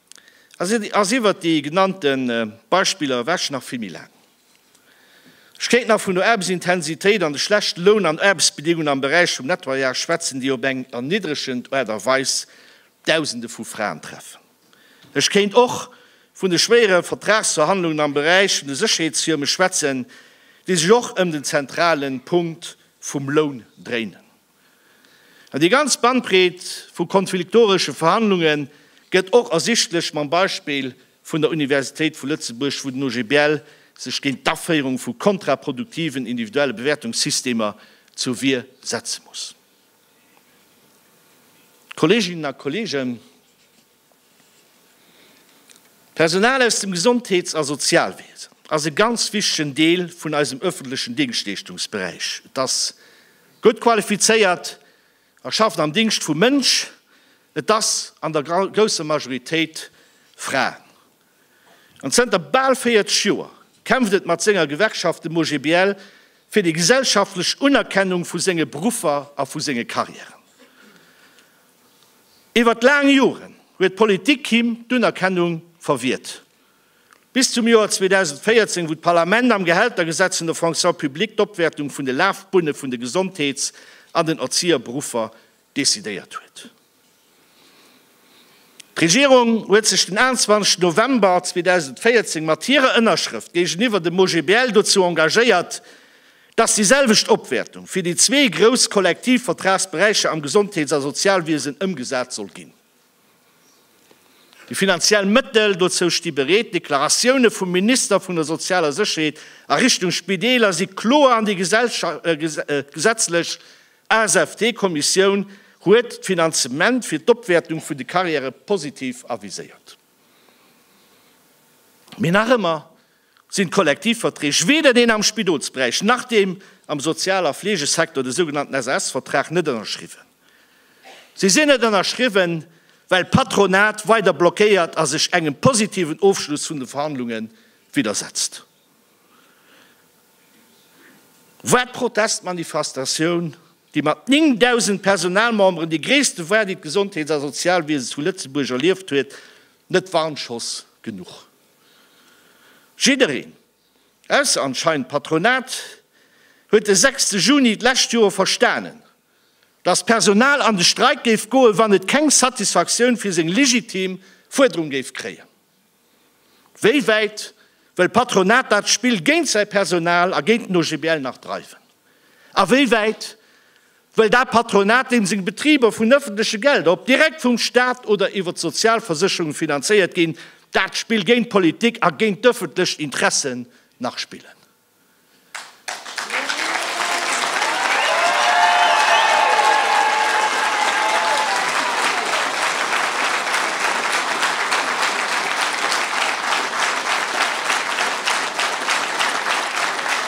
ass iwwert déi genannte Beispiller ewech nach vill méi laang. Ech kéint nach vun der Aarbechtsintensitéit an de schlechte Loun an Aarbechtsbedingungen am Beräich vum Nettoyage schwätzen, déi op eng erniddregend Aart a Weis Dausende vu Fraen treffen. Ech kéint och vun de schwéiere Vertragsverhandlungen am Beräich vun de Sécherheetsfirme schwätzen, déi sech och ëm den zentrale Punkt vum Loun dréinen. An déi ganz Bandbreet vu konfliktoresche Verhandlunge gëtt och ersichtlech mam Beispill vun der Universitéit vu Lëtzebuerg, wou den OGBL sech géint d'Aféierung vu kontraproduktiven individuelle Bewäertungssystemer zur Wier setze muss. Kolleeginnen a Kolleegen, D'Personal aus dem Gesondheets a Sozialwiesen ass e ganz wichtegen Deel vun eisem ëffentlechen Dingschtleeschtungsberäich. Et ass gutt qualifizéiert a schafft am Dingscht vum Mënsch. Et ass an der grousser Majoritéit Fraen. An zënter bal 40 Joer kämpft et mat senger Gewerkschaft, dem OGBL, fir déi gesellschaftlech Unerkennung vu senge Beruffer a vu senge Carrièren. Iwwert laang Joren huet d'Politik him d'Unerkennung verwiert. Bis zum Joer 2014, wou d'Parlament am Gehältergesetz vun der Fonction publique d'Opwäertung vun de Lafbunne vun de Gesondheets an den Erzieherberuffer decidéiert huet. D'Regierung huet sech den 21 November 2014 mat hirer Ënnerschrëft géigeniwwer dem OGBL dozou engagéiert, Dass déi selwecht Opwäertung fir déi zwee grouss Kollektivvertragsberäicher am Gesondheets a Sozialwiesen ëmgesat soll ginn. Déi finanziell Mëttel dozou sti bereet. D'Deklaratioune vum Minister vun der sozialer Sécherheet a Richtung Spideeler si kloer an déi gesetzlech ASFT-Kommissioun huet d'Finanzement fir d'Opwäertung vun de Carrièrë positiv aviséiert. Mee nach ëmmer sinn d'Kollektivverträg, weder deen am Spidolsberäich nach deem am Sozial a Fleegesector, de sougenannten SAS-Vertrag, net ënnerschriwwen. Si sinn net ënnerschriwwen, well d'Patronat weider blockéiert a sech engem positiven Ofschluss vun de Verhandlunge widdersetzt. War d'Protestmanifestatioun, déi mat 9.000 Personalmemberen déi gréisste war, déi d'Gesondheets a Sozialwiese zu Lëtzebuerg erlieft huet, net Warnschoss genuch? Jiddereen, ausser anscheinend d'Patronat, huet de 6 Juni d'lescht Joer verstanen, datt d'Personal an de Streik géif goen, wann et keng Satisfaktioun fir seng legitim Fuerderung géif kréien. Wéi wäit wëll d'Patronat dat Spill géint säi Personal a géint den OGBL nach dreiwen? A wéi wäit Well dat Patronat, deem seng Betriber vun ëffentleche Gelder, ob direkt vum Staat oder iwwer d'Sozialversécherung, finanzéiert ginn, dat Spill géint d'Politik a géint d'ëffentlech Interessen nach spillen.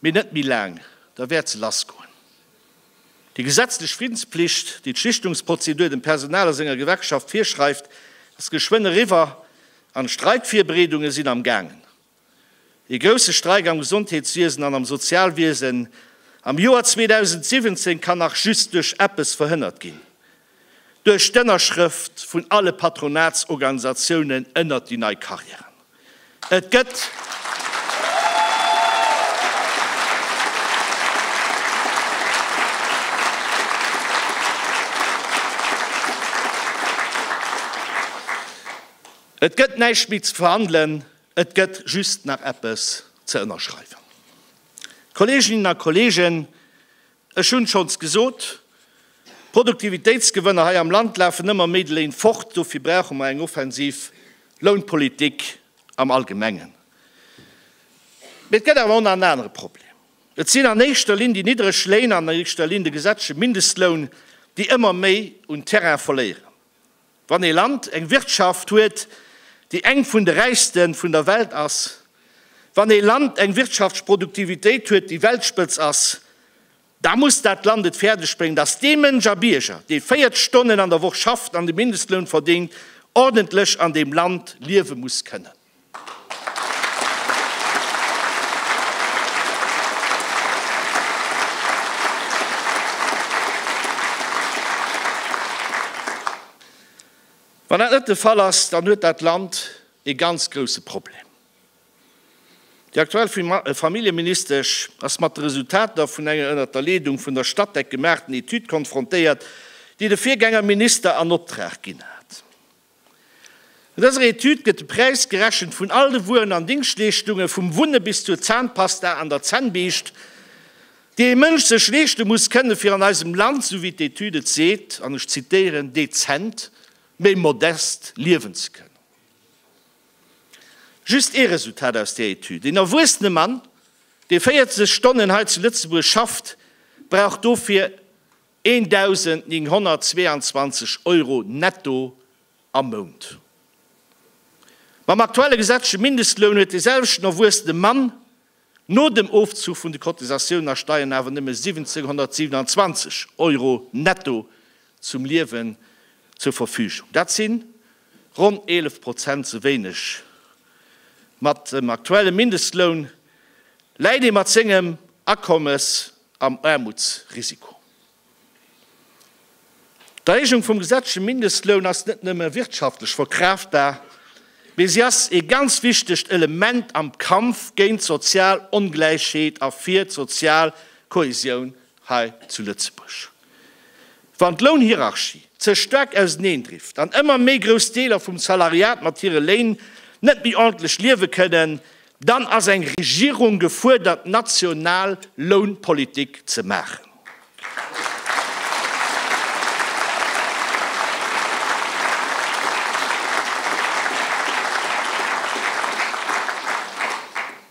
Mee net méi laang, da wäert se lassgoen. Déi gesetzlech Friddensplicht, déi d'Schlichtungsprozedur dem Personal a senger Gewerkschaft virschreift, ass geschwënn eriwwer an d'Streikvirbreedunge sinn am gaangen. Ee grousse Streik am Gesondheetswiesen an am Sozialwiesen am Joer 2017 kann nach just duerch eppes verhënnert ginn. Duerch d'Ënnerschrëft vun alle Patronatsorganisatiounen ënnert déi nei Carrièren. Et gëtt Et gëtt näischt méi ze verhandelen, et gëtt just nach eppes ze ënnerschreiwen. Kolleeginnen a Kolleegen, Ech hunn schonns gesot, Produktivitéitsgewënner hei am Land lafen ëmmer méi de Léin fort. Dofir brauche mer eng offensiv Lounpolitik am Allgemengen. Mee et gëtt awer och nach en anere Problem. Et sinn an éischter Linn déi niddreg Léin, an éischter Linn de gesetzleche Mindestloun, déi ëmmer méi un Terrain verléieren. Wann ee Land eng Wirtschaft huet, déi eng vun de räichste vun der Welt ass, wann ee Land eng Wirtschaftsproduktivitéit huet, déi Weltspëtz ass, da muss dat Land et fäerdeg bréngen, datt dee Mënsch a Bierger, dee 40 Stonnen an der Woch schafft an de Mindestloun verdéngt, ordentlech an deem Land liewe muss kënnen. Wann dat net de Fall ass, dann huet dat Land ee ganz grousse Problem. Déi aktuell Familljeministesch ass mat de Resultater vun enger ënnert der Leedung vun der Statec gemaachten Etüd konfrontéiert, déi de Virgängerminister an Optrag ginn hat. An dëser Etüd gëtt de Präis gerechent vun all de Wueren an Dingschtleeschtunge vum Wunne bis zur Zahnpasta an der Zännbiischt, déi ee Mënsch sech leeschte muss kënne fir an eisem Land, sou wéi d'Etüd et seet, an ech zitieren, dezent, mee modest liewen ze kënnen. Just ee Resultat aus där Etüd, Een erwuessene Mann, dee 40 Stonnen hei zu Lëtzebuerg schafft, brauch dofir. 1.922 Euro netto am Mount. Mam aktuelle gesetzleche Mindestloun huet de selwechten erwuessene Mann no dem Ofzuch vun de Cotisatiounen a Steien awer nëmme 1.727 Euro netto zum Liewen zur Verfügung. Dat si ronn 11 Prozent ze wéineg. Mat dem aktuelle Mindestloun läit ee mat sengem Akommes am Aarmutsrisiko. D'Erhéijung vum gesetzleche Mindestloun ass net nëmme wirtschaftlech verkraaftbar, mee si ass ee ganz wichtegt Element am Kampf géint d'sozial Ongläichheet a fir d'sozial Kohäsioun hei zu Lëtzebuerg. Wann d'Lounhierarchie ze staark auseneendrift an ëmmer méi grouss Deeler vum Salariat mat hire Léin net méi ordentlech liewe kënnen, Dann ass eng Regierung gefuerdert, national Lounpolitik ze maachen.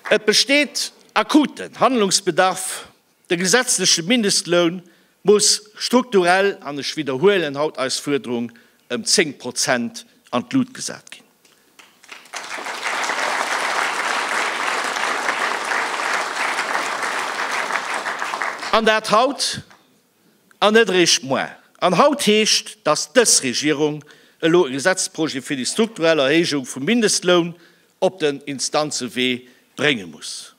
Et besteet akuten Handlungsbedarf. De gesetzleche Mindestloun muss strukturell, an ech widderhuelen haut eis Fuerderung, ëm 10 Prozent an d'Lut gesat ginn. An dat haut an net eréischt moar. An haut heescht, dass dës Regierung elo e Gesetzesprojet fir déi strukturell Erhéijung vum Mindestloun op den Instanzewee brénge muss.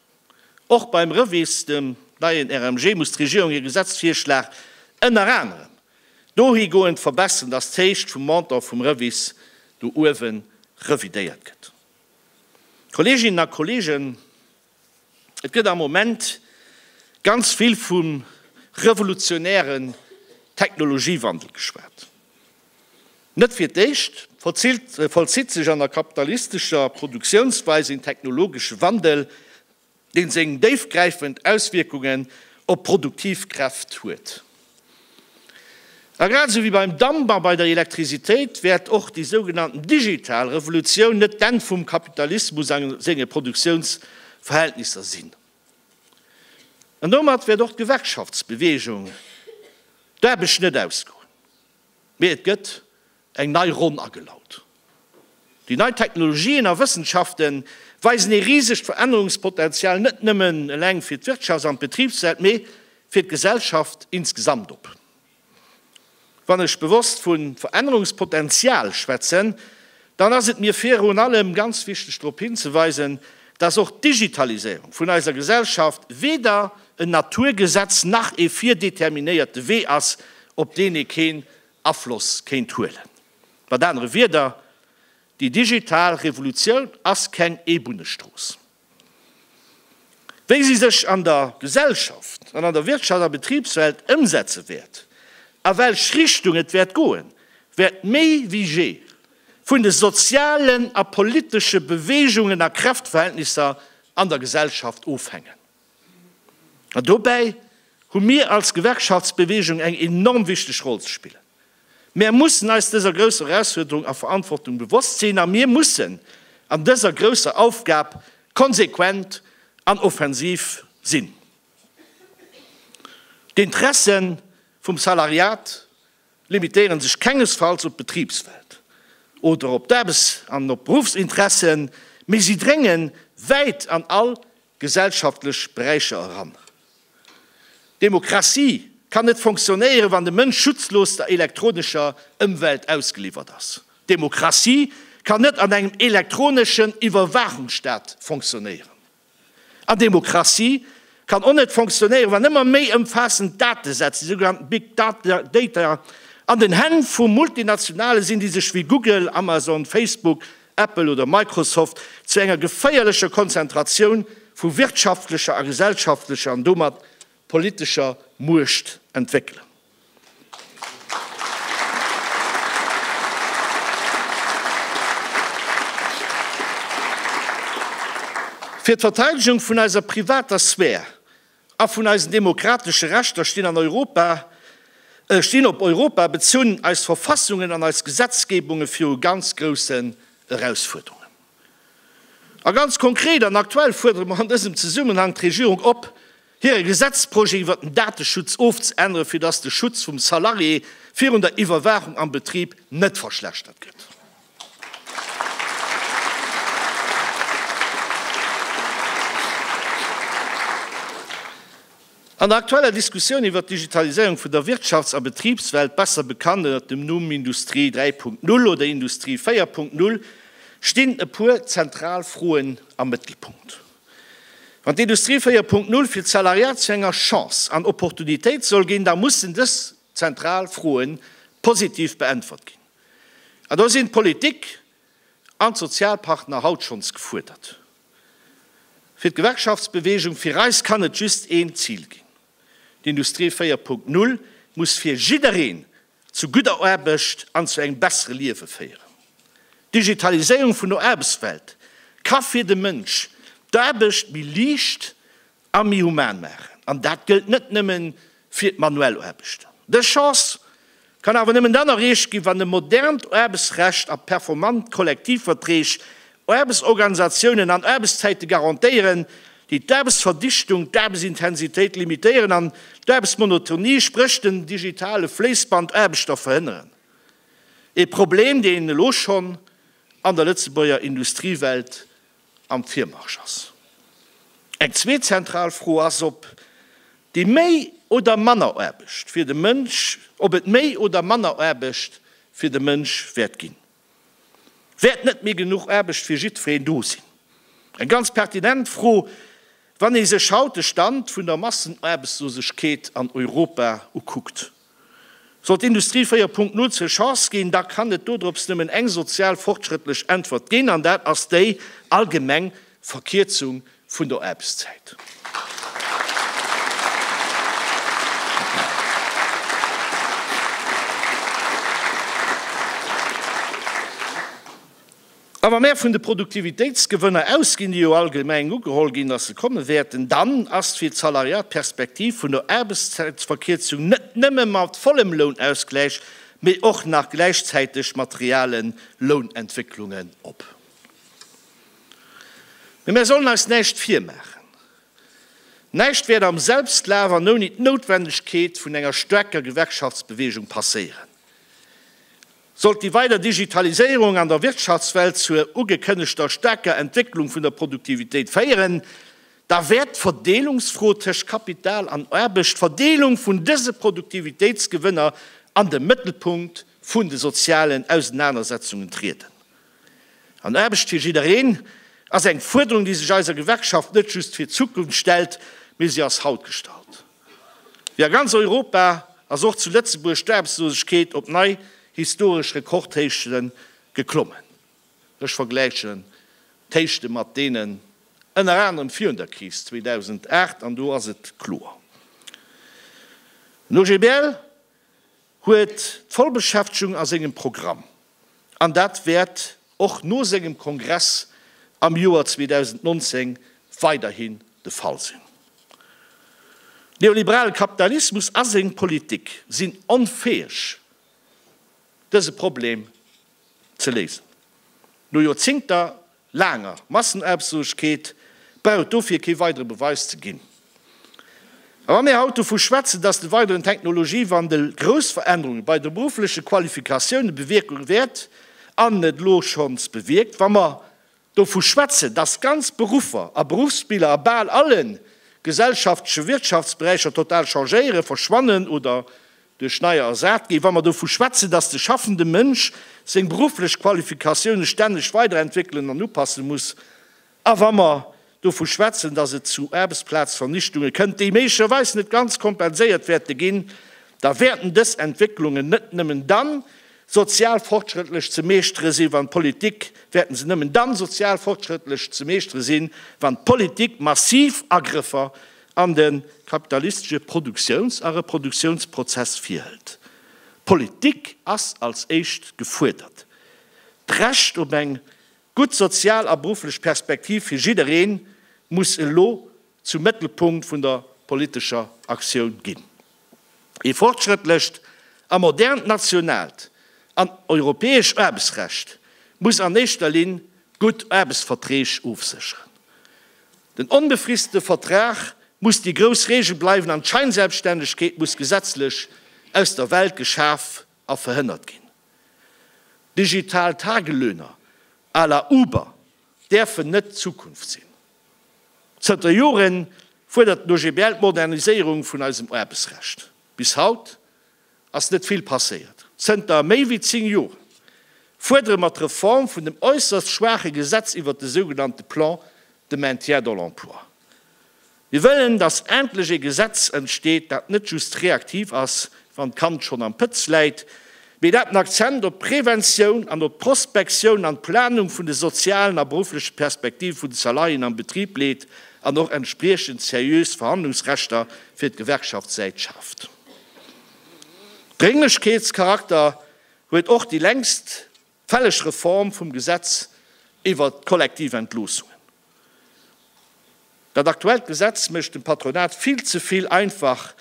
Och beim REVIS, dem neien RMG, muss d'Regierung hir Gesetzvirschlag ënner anerem dohigoend verbessern, dass d'Héicht vum Montant vum REVIS do uewe revidéiert gëtt. Kolleeginnen a Kolleegen, et gëtt am Moment ganz vill vum revolutionären Technologiewandel geschwat. Net fir d'éischt vollzitt sech an der kapitalistescher Produktiounsweis een technologesche Wandel, deen seng déifgräifend Auswierkungen op d'produktiv Kräft huet. A grad esou wéi beim Damp a bei der Elektrisitéit wäert och déi sougenannten digital Revolutioun net d'Enn vum Kapitalismus a senge Produktiounsverhältnisser sinn. An domat wäert och d'Gewerkschaftsbewegung d'Aarbecht net ausgoen. Mee et gëtt eng nei Ronn agelaut. Déi nei Technologien a Wëssenschafte weisen ee risegt Verännerungspotential net nëmmen eleng fir d'Wirtschafts an d'Betribswelt, mee fir d'Gesellschaft insgesamt op. Wann ech bewosst vu Verännerungspotential schwätzen, Dann ass et mir virun allem ganz wichteg drop hinzeweisen, dass och d'Digitaliséierung vun eiser Gesellschaft weder en Naturgesetz nach ee virdeterminéierte Wee ass, op deen ee keen Afloss kéint huelen. Mat anere Wierder, déi digital Revolutioun ass keng Eebunnestrooss. Wéi si sech an der Gesellschaft an an der Wirtschafts a Betribswelt ëmsetze wäert, a welch Richtung et wäert goen, wäert méi wéi jee vun de sozialen a politesche Beweegungen a Kräftverhältnisser an der Gesellschaft ofhängen. An dobäi hu mir als Gewerkschaftsbeweegung eng enorm wichteg Roll ze spillen. Mär mussen eis dëser grousser Erausfuerderung a Verantwortung bewosst sinn a mir mussen an dëser grousser Aufgab konsequent an offensiv sinn. D'Interesse vum Salariat limitéiere sech kengesfalls op d'Betribswelt oder op d'Aarbechts an op d'Beruffsinteressen, mee si drénge wäit an all gesellschaftlech Beräicher eran. Demokratie kann net fonctionnéieren, wann de Mënsch schutzlos der elektronescher Ëmwelt ausgeliwwert ass. Demokratie kann net an engem elektroneschen Iwwerwaachungsstaat fonctionnéieren. An Demokratie kann och net fonctionnéieren, wann ëmmer méi ëmfaassend Datesätz, déi sougenannten Big Data, an den Hänn vu Multinationale sinn, déi sech wéi Google, Amazon, Facebook Apple oder Microsoft, zu enger geféierlecher Konzentratioun vu wirtschaftlecher a gesellschaftlecher an domat politescher Muecht entwéckelen. Fir d'Verteidegung vun eiser privater Sphär A vun eisen demokratesche Rechter stinn an Europa, stinn op Europa bezunn, eis Verfassungen an eis Gesetzgebunge viru ganz groussen Erausfuerderungen. A ganz konkret an aktuell fuerdere mer an dësem Zesummenhang d'Regierung op, hire Gesetzprojet iwwert den Dateschutz ofzeänneren, fir dass de Schutz vum Salarié virun der Iwwerwaachung am Betrib net verschlechtert gëtt. An der aktueller Diskussioun iwwert d'Digitaliséierung vun der Wirtschafts a Betribswelt, besser bekannt ënnert dem Numm Industrie 3.0 oder Industrie 4.0, stinn e puer zentral Froen am Mëttelpunkt. Wann d'Industrie 4.0 fir d'Salariat zu enger Chance an Opportunitéit soll ginn, da mussen dës zentral Froe positiv beäntwert ginn. An do sinn d'Politik an d'Sozialpartner haut schonns gefuerdert. Fir d'Gewerkschaftsbewegung, fir eis kann et just een Zil ginn, D'Industrie 4.0 muss fir jiddereen zu gudder Aarbecht an zu engem bessere Liewe féieren. D'Digitaliséierung vun der Aarbechtswelt ka fir de Mënsch d'Aarbecht méi liicht a méi human maachen, an dat gëllt net nëmme fir d'manuell Aarbechten. Dës Chance kann awer nëmmen dann erreecht ginn, wann e modernt Aarbechtsrecht a performant Kollektivverträg Aarbechtsorganisatiounen an Aarbechtszäite garantéieren, déi d'Aarbechtsverdichtung, d'Aarbechtsintensitéit limitéieren an d'Aarbechtsmonotonie, spréch den digitale Fléissband Aarbechter verhënneren, e Problem, deen elo schonn an der Lëtzebuerger Industriewelt am Virmarsch ass. Eng zweet zentral Fro ass, ob déi méi oder manner Aarbecht fir de Mënsch, ob et méi oder manner Aarbecht fir de Mënsch wäert ginn. Wäert net méi genuch Aarbecht fir jiddwereen do sinn? Eng ganz pertinent Fro, wann ee sech haut de Stand vun der Massenaarbechtslosegkeet an Europa ukuckt. Sollt Industrie 4.0 zur Chance ginn, da kann et dodrops nëmmen eng sozial fortschrëttlech Äntwert ginn, an dat ass déi allgemeng Verkierzung vun der Aarbechtszäit. A wa mär vun de Produktivitéitsgewënner ausginn, déi jo allgemeng ugeholl ginn, datt se komme wäerten, dann ass fir d'Salariat d'Perspektiv vun der Aarbechtszäitverkierzung net nëmme mat vollem Lounausgläich, mee och nach gläichzäiteg mat realen Lounentwécklungen op. Mee mär sollen eis näischt virmaachen, näischt wäert am Selbstlaf an ouni d'Noutwendegkeet vun enger staarker Gewerkschaftsbewegung passéieren. Sollt déi weider Digitaliséierung an der Wirtschaftswelt zur ugekënnegter staarker Entwécklung vun der Produktivitéit féieren, da wäert d'Verdeelungsfro tëscht Kapital an Aarbecht, d'Verdeelung vun dëse Produktivitéitsgewënner, an de Mëttelpunkt vun de sozialen Ausenanersetzungen trieden. An Aarbecht fir jiddereen ass eng Fuerderung, déi sech eiser Gewerkschaft net just fir d'Zukunft stellt, mee si ass haut gestallt. Wéi a ganz Europa ass och zu Lëtzebuerg d'Aarbechtslosegkeet op nei historesch Rekordhéichte geklommen. Ech vergläichen d'Héichte mat deenen ënner anerem virun der Kris 2008 an do ass et kloer. Den OGBL huet d'Vollbeschäftegung a sengem Programm an dat wäert och no sengem Kongress am Joer 2019 weiderhin de Fall sinn. Neoliberale Kapitalismus a seng Politik sinn onfäeg, dëse Problem ze léisen. No Joerzingter laanger Massenaarbechtslosegkeet brauch dofir kee weidere Beweis ze ginn. A wa mir haut dovu schwätzen, dass de weideren Technologiewandel grouss Verännerunge bei de beruffleche Qualifikatioune bewierke wäert an et elo schonns bewierkt, wa mer dovu schwätzen, dass ganz Beruffer a Beruffsbiller a bal alle gesellschaftleche Wirtschaftsberäicher total changéieren, verschwannen oder Duerch neier ersat gi. Wa mer dovu schwätzen, dass de schaffende Mënsch seng berufflech Qualifikatioune stänneg weiderentwéckelen an upasse muss, a wa mer dovu schwätzen, dass et zu Aarbechtsplazvernichtunge kënnt, déi méiglecherweis net ganz kompenséiert wäerte ginn, da wäerten dës Entwécklungen net nëmmen dann sozial fortschrëttlech ze meeschtere si wann d'Politik, wäerten se nëmmen dann sozial fortschrëttlech ze meeschtere sinn, wann d'Politik massiv Agrëffer an de kapitalistesche Produktiouns a Reproduktiounsprozess virhëlt. D'Politik ass als éischt gefuerdert. D'Recht op eng gutt sozial a berufflech Perspektiv fir jidderee muss elo zum Mëttelpunkt vun der politescher Aktioun ginn. Ee fortschrëttlecht a modernt nationaalt an europäesch Aarbechtsrecht muss an éischter Linn gutt Aarbechtsverträg ofsécheren. Den onbefristete Vertrag muss déi grouss Reegel bleiwen an d'Scheinselbststännegkeet muss gesetzlech aus der Welt geschaf a verhënnert ginn. Digital Tagelöhner à la Uber däerfen net d'Zukunft sinn. Zënter Jore fuerdert den OGBL d'Moderniséierung vun eisem Aarbechtsrecht. Bis haut ass net vill passéiert. Zënter méi wéi 10 Jore fuerdere mer d'Reform vun dem äusserst schwaache Gesetz iwwert de sougenannte Plan de maintien dans l'emploi. Mir wëllen, dass endlech ee Gesetz entsteet, dat net just reaktiv ass, wann d'Kand schonn am Pëtz läit, mee dat den Akzent op d'Preventioun an op d'Prospektioun an d'Planung vun de sozialen a beruffleche Perspektive vun de Salariéen am Betrib leet an och entspriechend seriös Verhandlungsrechter fir d'Gewerkschaftssäit schaaft. Drénglechkeetscharakter huet och déi längst fälleg Reform vum Gesetz iwwert d'Kollektiventloosungen. Dat aktuellt Gesetz mécht dem Patronat vill ze vill einfach,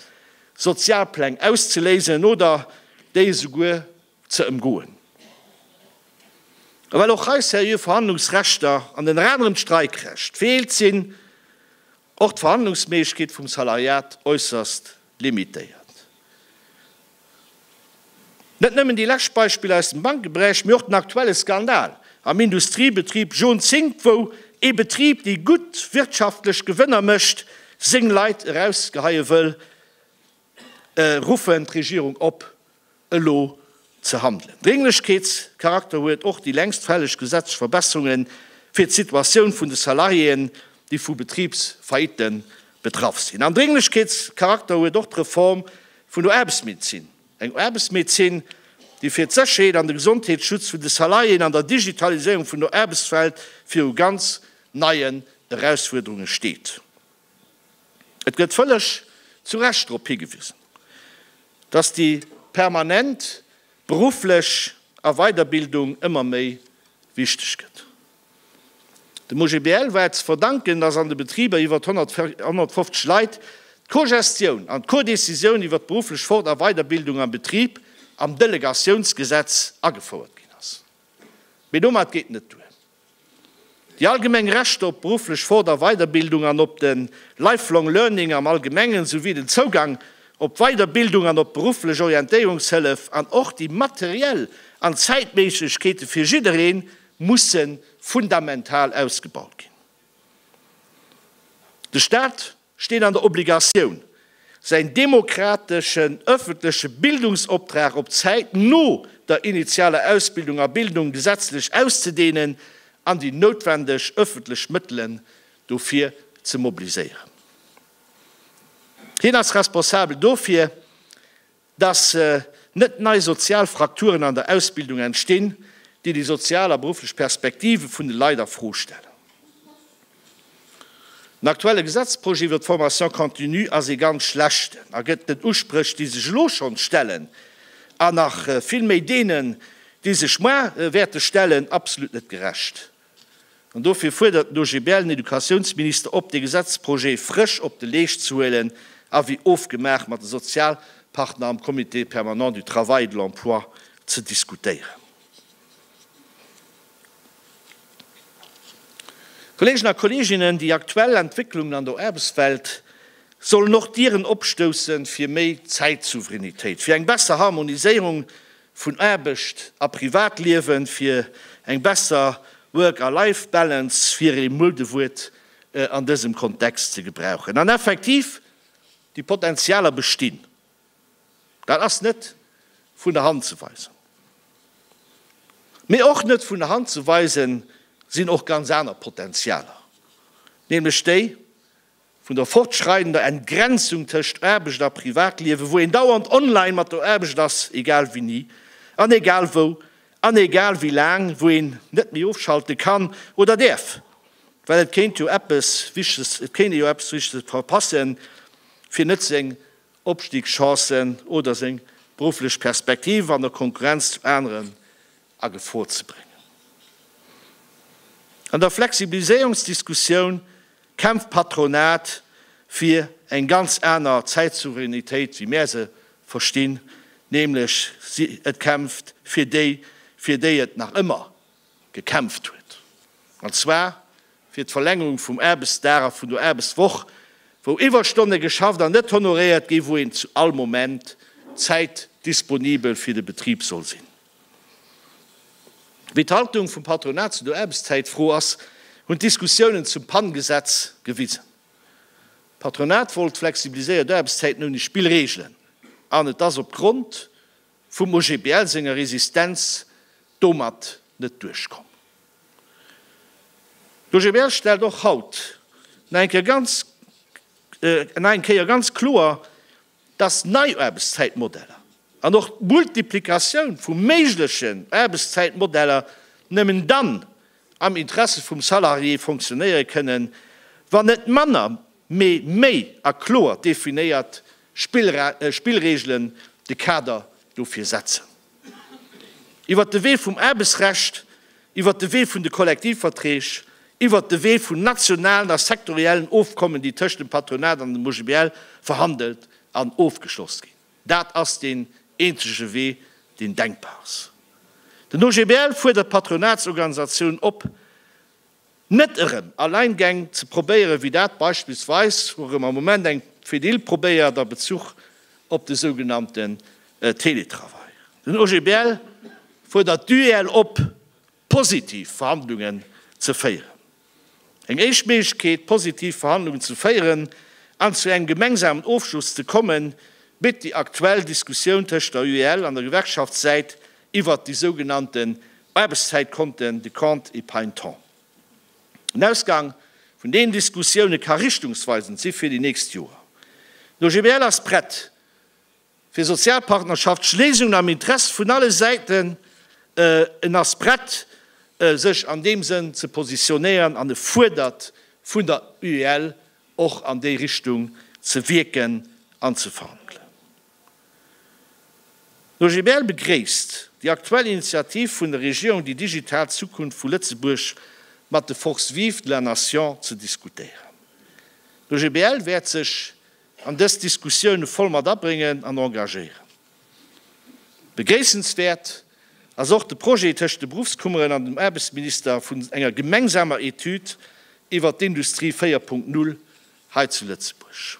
Sozialpläng auszeléisen oder déi esouguer ze ëmgoen. A well och hei seriö Verhandlungsrechter an ënner anerem d'Streikrecht feelt, sinn och d'Verhandlungsméiglechkeete vum Salariat äusserst limitéiert. Net nëmmen déi lescht Beispiller aus dem Bankeberäich, mee och den aktuelle Skandal am Industriebetrib John Zink, wou ee Betrib, dee gutt wirtschaftlech Gewënner mécht, seng Leit erausgeheie wëll, ruffen d'Regierung op, elo ze handelen. Drénglechkeetscharakter huet och déi längst fälleg gesetzlech Verbesserunge fir d'Situatioun vun de Salariéen, déi vu Betribsfaillitten betraff sinn. An Drénglechkeetscharakter huet och d'Reform Vun der Aarbechtsmedezin, eng Aarbechtsmedezin, déi fir d'Sécherheet an de Gesondheetsschutz vun de Salariéen an der Digitaliséierung vun der Aarbechtswelt viru ganz neien Erausfuerderunge steet. Et gëtt vëlleg zu Recht drop higewisen, dass déi permanent berufflech A Weiderbildung ëmmer méi wichteg gëtt. Dem OGBL war et ze verdanken, datt an de Betriber iwwert 150 Leit d'Cogestioun an d'Codecisioun iwwert d'berufflech Fort a Weiderbildung am Betrib am Delegatiounsgesetz agefouert ginn ass. Mee domat geet net duer. Déi allgemeng Rechter op d'berufflech Fort a Weiderbildung an op de Lifelong Learning am Allgemengen, souwéi den Zougang op d'Weiderbildung an op d'berufflech Orientéierungshëllef an och déi materiell an Zäitméiglechkeete fir jiddereen musse fundamental ausgebaut ginn. De Staat steet an der Obligatioun, säin demokrateschen öffentleche Bildungsoptrag op d'Zäit no der initialer Ausbildung a Bildung gesetzlech auszedehnen an déi noutwendeg öffentlech Mëttelen dofir ze mobiliséieren. Hien ass responsabel dofir, dass net nei sozial Frakturen an der Ausbildung entstinn, déi déi sozial a berufflech Perspektive vun de Leit a Fro stellen. Den aktuelle Gesetzprojet iwwert d'Formation continue ass ee ganz schlechten a gëtt den Uspréch, déi sech elo schonns stellen, an nach vill méi deenen, déi sech muer wäerte stellen, absolut net gerecht. An dofir fuerdert den OGBL den Educatiounsminister op, dee Gesetzprojet frësch op de Leescht ze huelen a wéi ofgemaach mat de Sozialpartner am Comité permanent du travail et de l'emploi ze diskutéieren. Kolleegen a Kolleeginnen, déi aktuell Entwécklungen an der Aarbechtswelt sollen och d'Dieren opstoussen, fir méi Zäitsouveränitéit, fir eng besser Harmoniséierung vun Aarbecht a Privatliewen, fir eng besser Work a Life Balance, fir ee Muedewuert an dësem Kontext ze gebrauchen. An effektiv, déi Potentialer bestinn. Dat ass net vun der Hand ze weisen. Mee och net vun der Hand ze weisen sinn och ganz aner Potentialer, nämlech déi, vun der fortschreidender Entgrenzung tëscht Aarbecht a Privatliewen, wou een dauernd online mat der Aarbecht ass, egal wéini an egal wou an egal wéi laang, wou een net méi ofschalte kann oder däerf, well et kéint jo eppes Wichteges, et kéint ee jo eppes Wichteges verpassen, fir net seng Opstiegschancen oder seng berufflech Perspektive an der Konkurrenz zu aneren a Gefor ze bréngen. An der Flexibiliséierungsdiskussioun kämpft d'Patronat fir eng ganz aner Zäitsouveränitéit, wéi mär se verstinn, nämlech et kämpft fir déi, fir déi et nach ëmmer gekämpft huet, an zwar fir d'Verlängerung vum Aarbechtsdag a vun der Aarbechtswoch, wou Iwwerstonne geschafft an net honoréiert ginn, wou een zu all Moment zäitdisponibel fir de Betrib soll sinn. Wéi d'Haltung vum Patronat zu der Aarbechtszäitfro ass, hunn d'Diskussiounen zum PAN-Gesetz gewisen. D'Patronat wollt flexibiliséiert Aarbechtszäiten ouni Spillreegelen, an et ass op Grond vum OGBL senger Resistenz domat net duerchkomm. D'OGBL stellt och haut nach eng Kéier ganz kloer, dass nei Aarbechtszäitmodeller an och d'Multiplikatioun vu méiglechen Aarbechtszäitmodeller nëmmen dann am Interesse vum Salarié fonctionnéiere kënnen, wann net manner, mee méi a kloer definéiert Spillregelen de Kader dofir setzen. Iwwert de Wee vum Aarbechtsrecht, iwwert de Wee vun de Kollektivverträg, iwwert de Wee vun nationalen a sektoriellen Ofkommen, déi tëscht dem Patronat an dem OGBL verhandelt an ofgeschloss ginn. Dat ass deen eenzege Wee, deen denkbar ass. Den OGBL fuerdert d'Patronatsorganisatioun op, Net erëm Alleingäng ze probéieren, wéi dat beispillsweis, wourëm am Moment eng Fedil probéiert, a Bezuch op de sougenannten Teletravail. Den OGBL fuerdert d'UEL op, positiv Verhandlungen ze féieren. Eng éischt Méiglechkeet, positiv Verhandlungen ze féieren an zu engem gemengsamen Ofschloss ze kommen, bitt déi aktuell Diskussioun tëscht der UEL an der Gewerkschaftssäit, Iwwert déi sougenannten Aarbechtszäitkonten, de compte épargne-temps. Den Ausgang vun deenen Diskussioune ka richtungsweisend si fir déi nächst Joer. D'OGBL ass prett, fir Sozialpartnerschaftsschléisungen am Interesse vun alle Säiten, en ass prett, sech an deem Sënn ze positionéieren an e fuerdert vun der UEL, och an déi Richtung ze wierken an ze verhandelen. D'OGBL begréisst déi aktuell Initiativ vun der Regierung déi digital Zukunft vu Lëtzebuerg mat de Forces vives de la nation ze diskutéieren. D'OGBL wäert sech an dës Diskussioune voll mat abréngen an engagéieren. Begréissenswäert ass och de Projet tëscht de Beruffskummeren an dem Aarbechtsminister vun enger gemengsamer Etüd iwwer d'Industrie 4.0 hei zu Lëtzebuerg.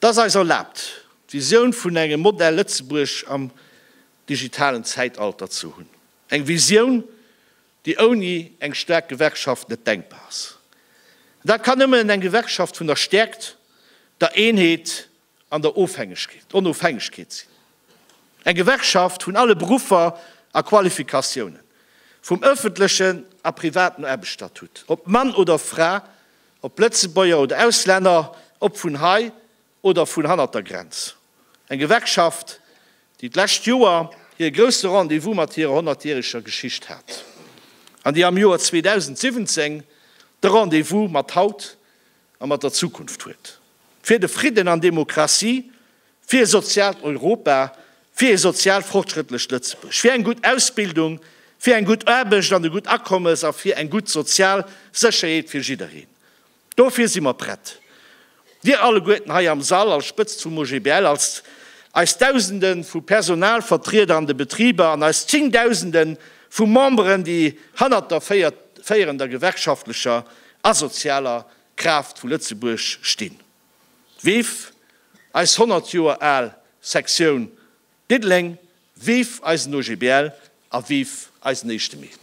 Et ass eis erlaabt, d'Visioun vun engem Modell Lëtzebuerg am digitalen Zäitalter ze hunn. Eng Visioun, déi ouni eng staark Gewerkschaft net denkbar ass. An dat kann nëmmen eng Gewerkschaft vun der Stäerkt, der Eenheet an der Onofhängegkeet sinn. Eng Gewerkschaft vun alle Beruffer a Qualifikatiounen, vum ëffentlechen a privaten Aarbechtsstatut, ob Mann oder Fra, Ob Lëtzebuerger oder Auslänner, ob vun hei oder vun hannert der Grenz, eng Gewerkschaft, déi d'lescht Joer hir grousse Rendez-vous mat hirer honnertjäreger Geschicht hat an déi am Joer 2017 de Rendez-vous mat haut a mat der Zukunft huet, fir de Fridden an d'Demokratie Fir e soziaalt Europa, fir e sozial fortschrëttlecht Lëtzebuerg, fir eng gutt Ausbildung, fir eng gutt Aarbecht an e gutt Akommes a fir eng gutt sozial Sécherheet fir jiddereen. Dofir si mer prett, Dir alleguerten hei am Sall als Spëtzt vum OGBL, als eis Dausende vu Personalvertrieder an de Betriber an eis Zéngdausende vu Memberen, déi hannert der féierender gewerkschaftlecher a sozialer Kraaft vu Lëtzebuerg stinn. Vive eis 100 Joer al Sektioun Diddeleng, vive eisen OGBL a vive eisen éischte Mee!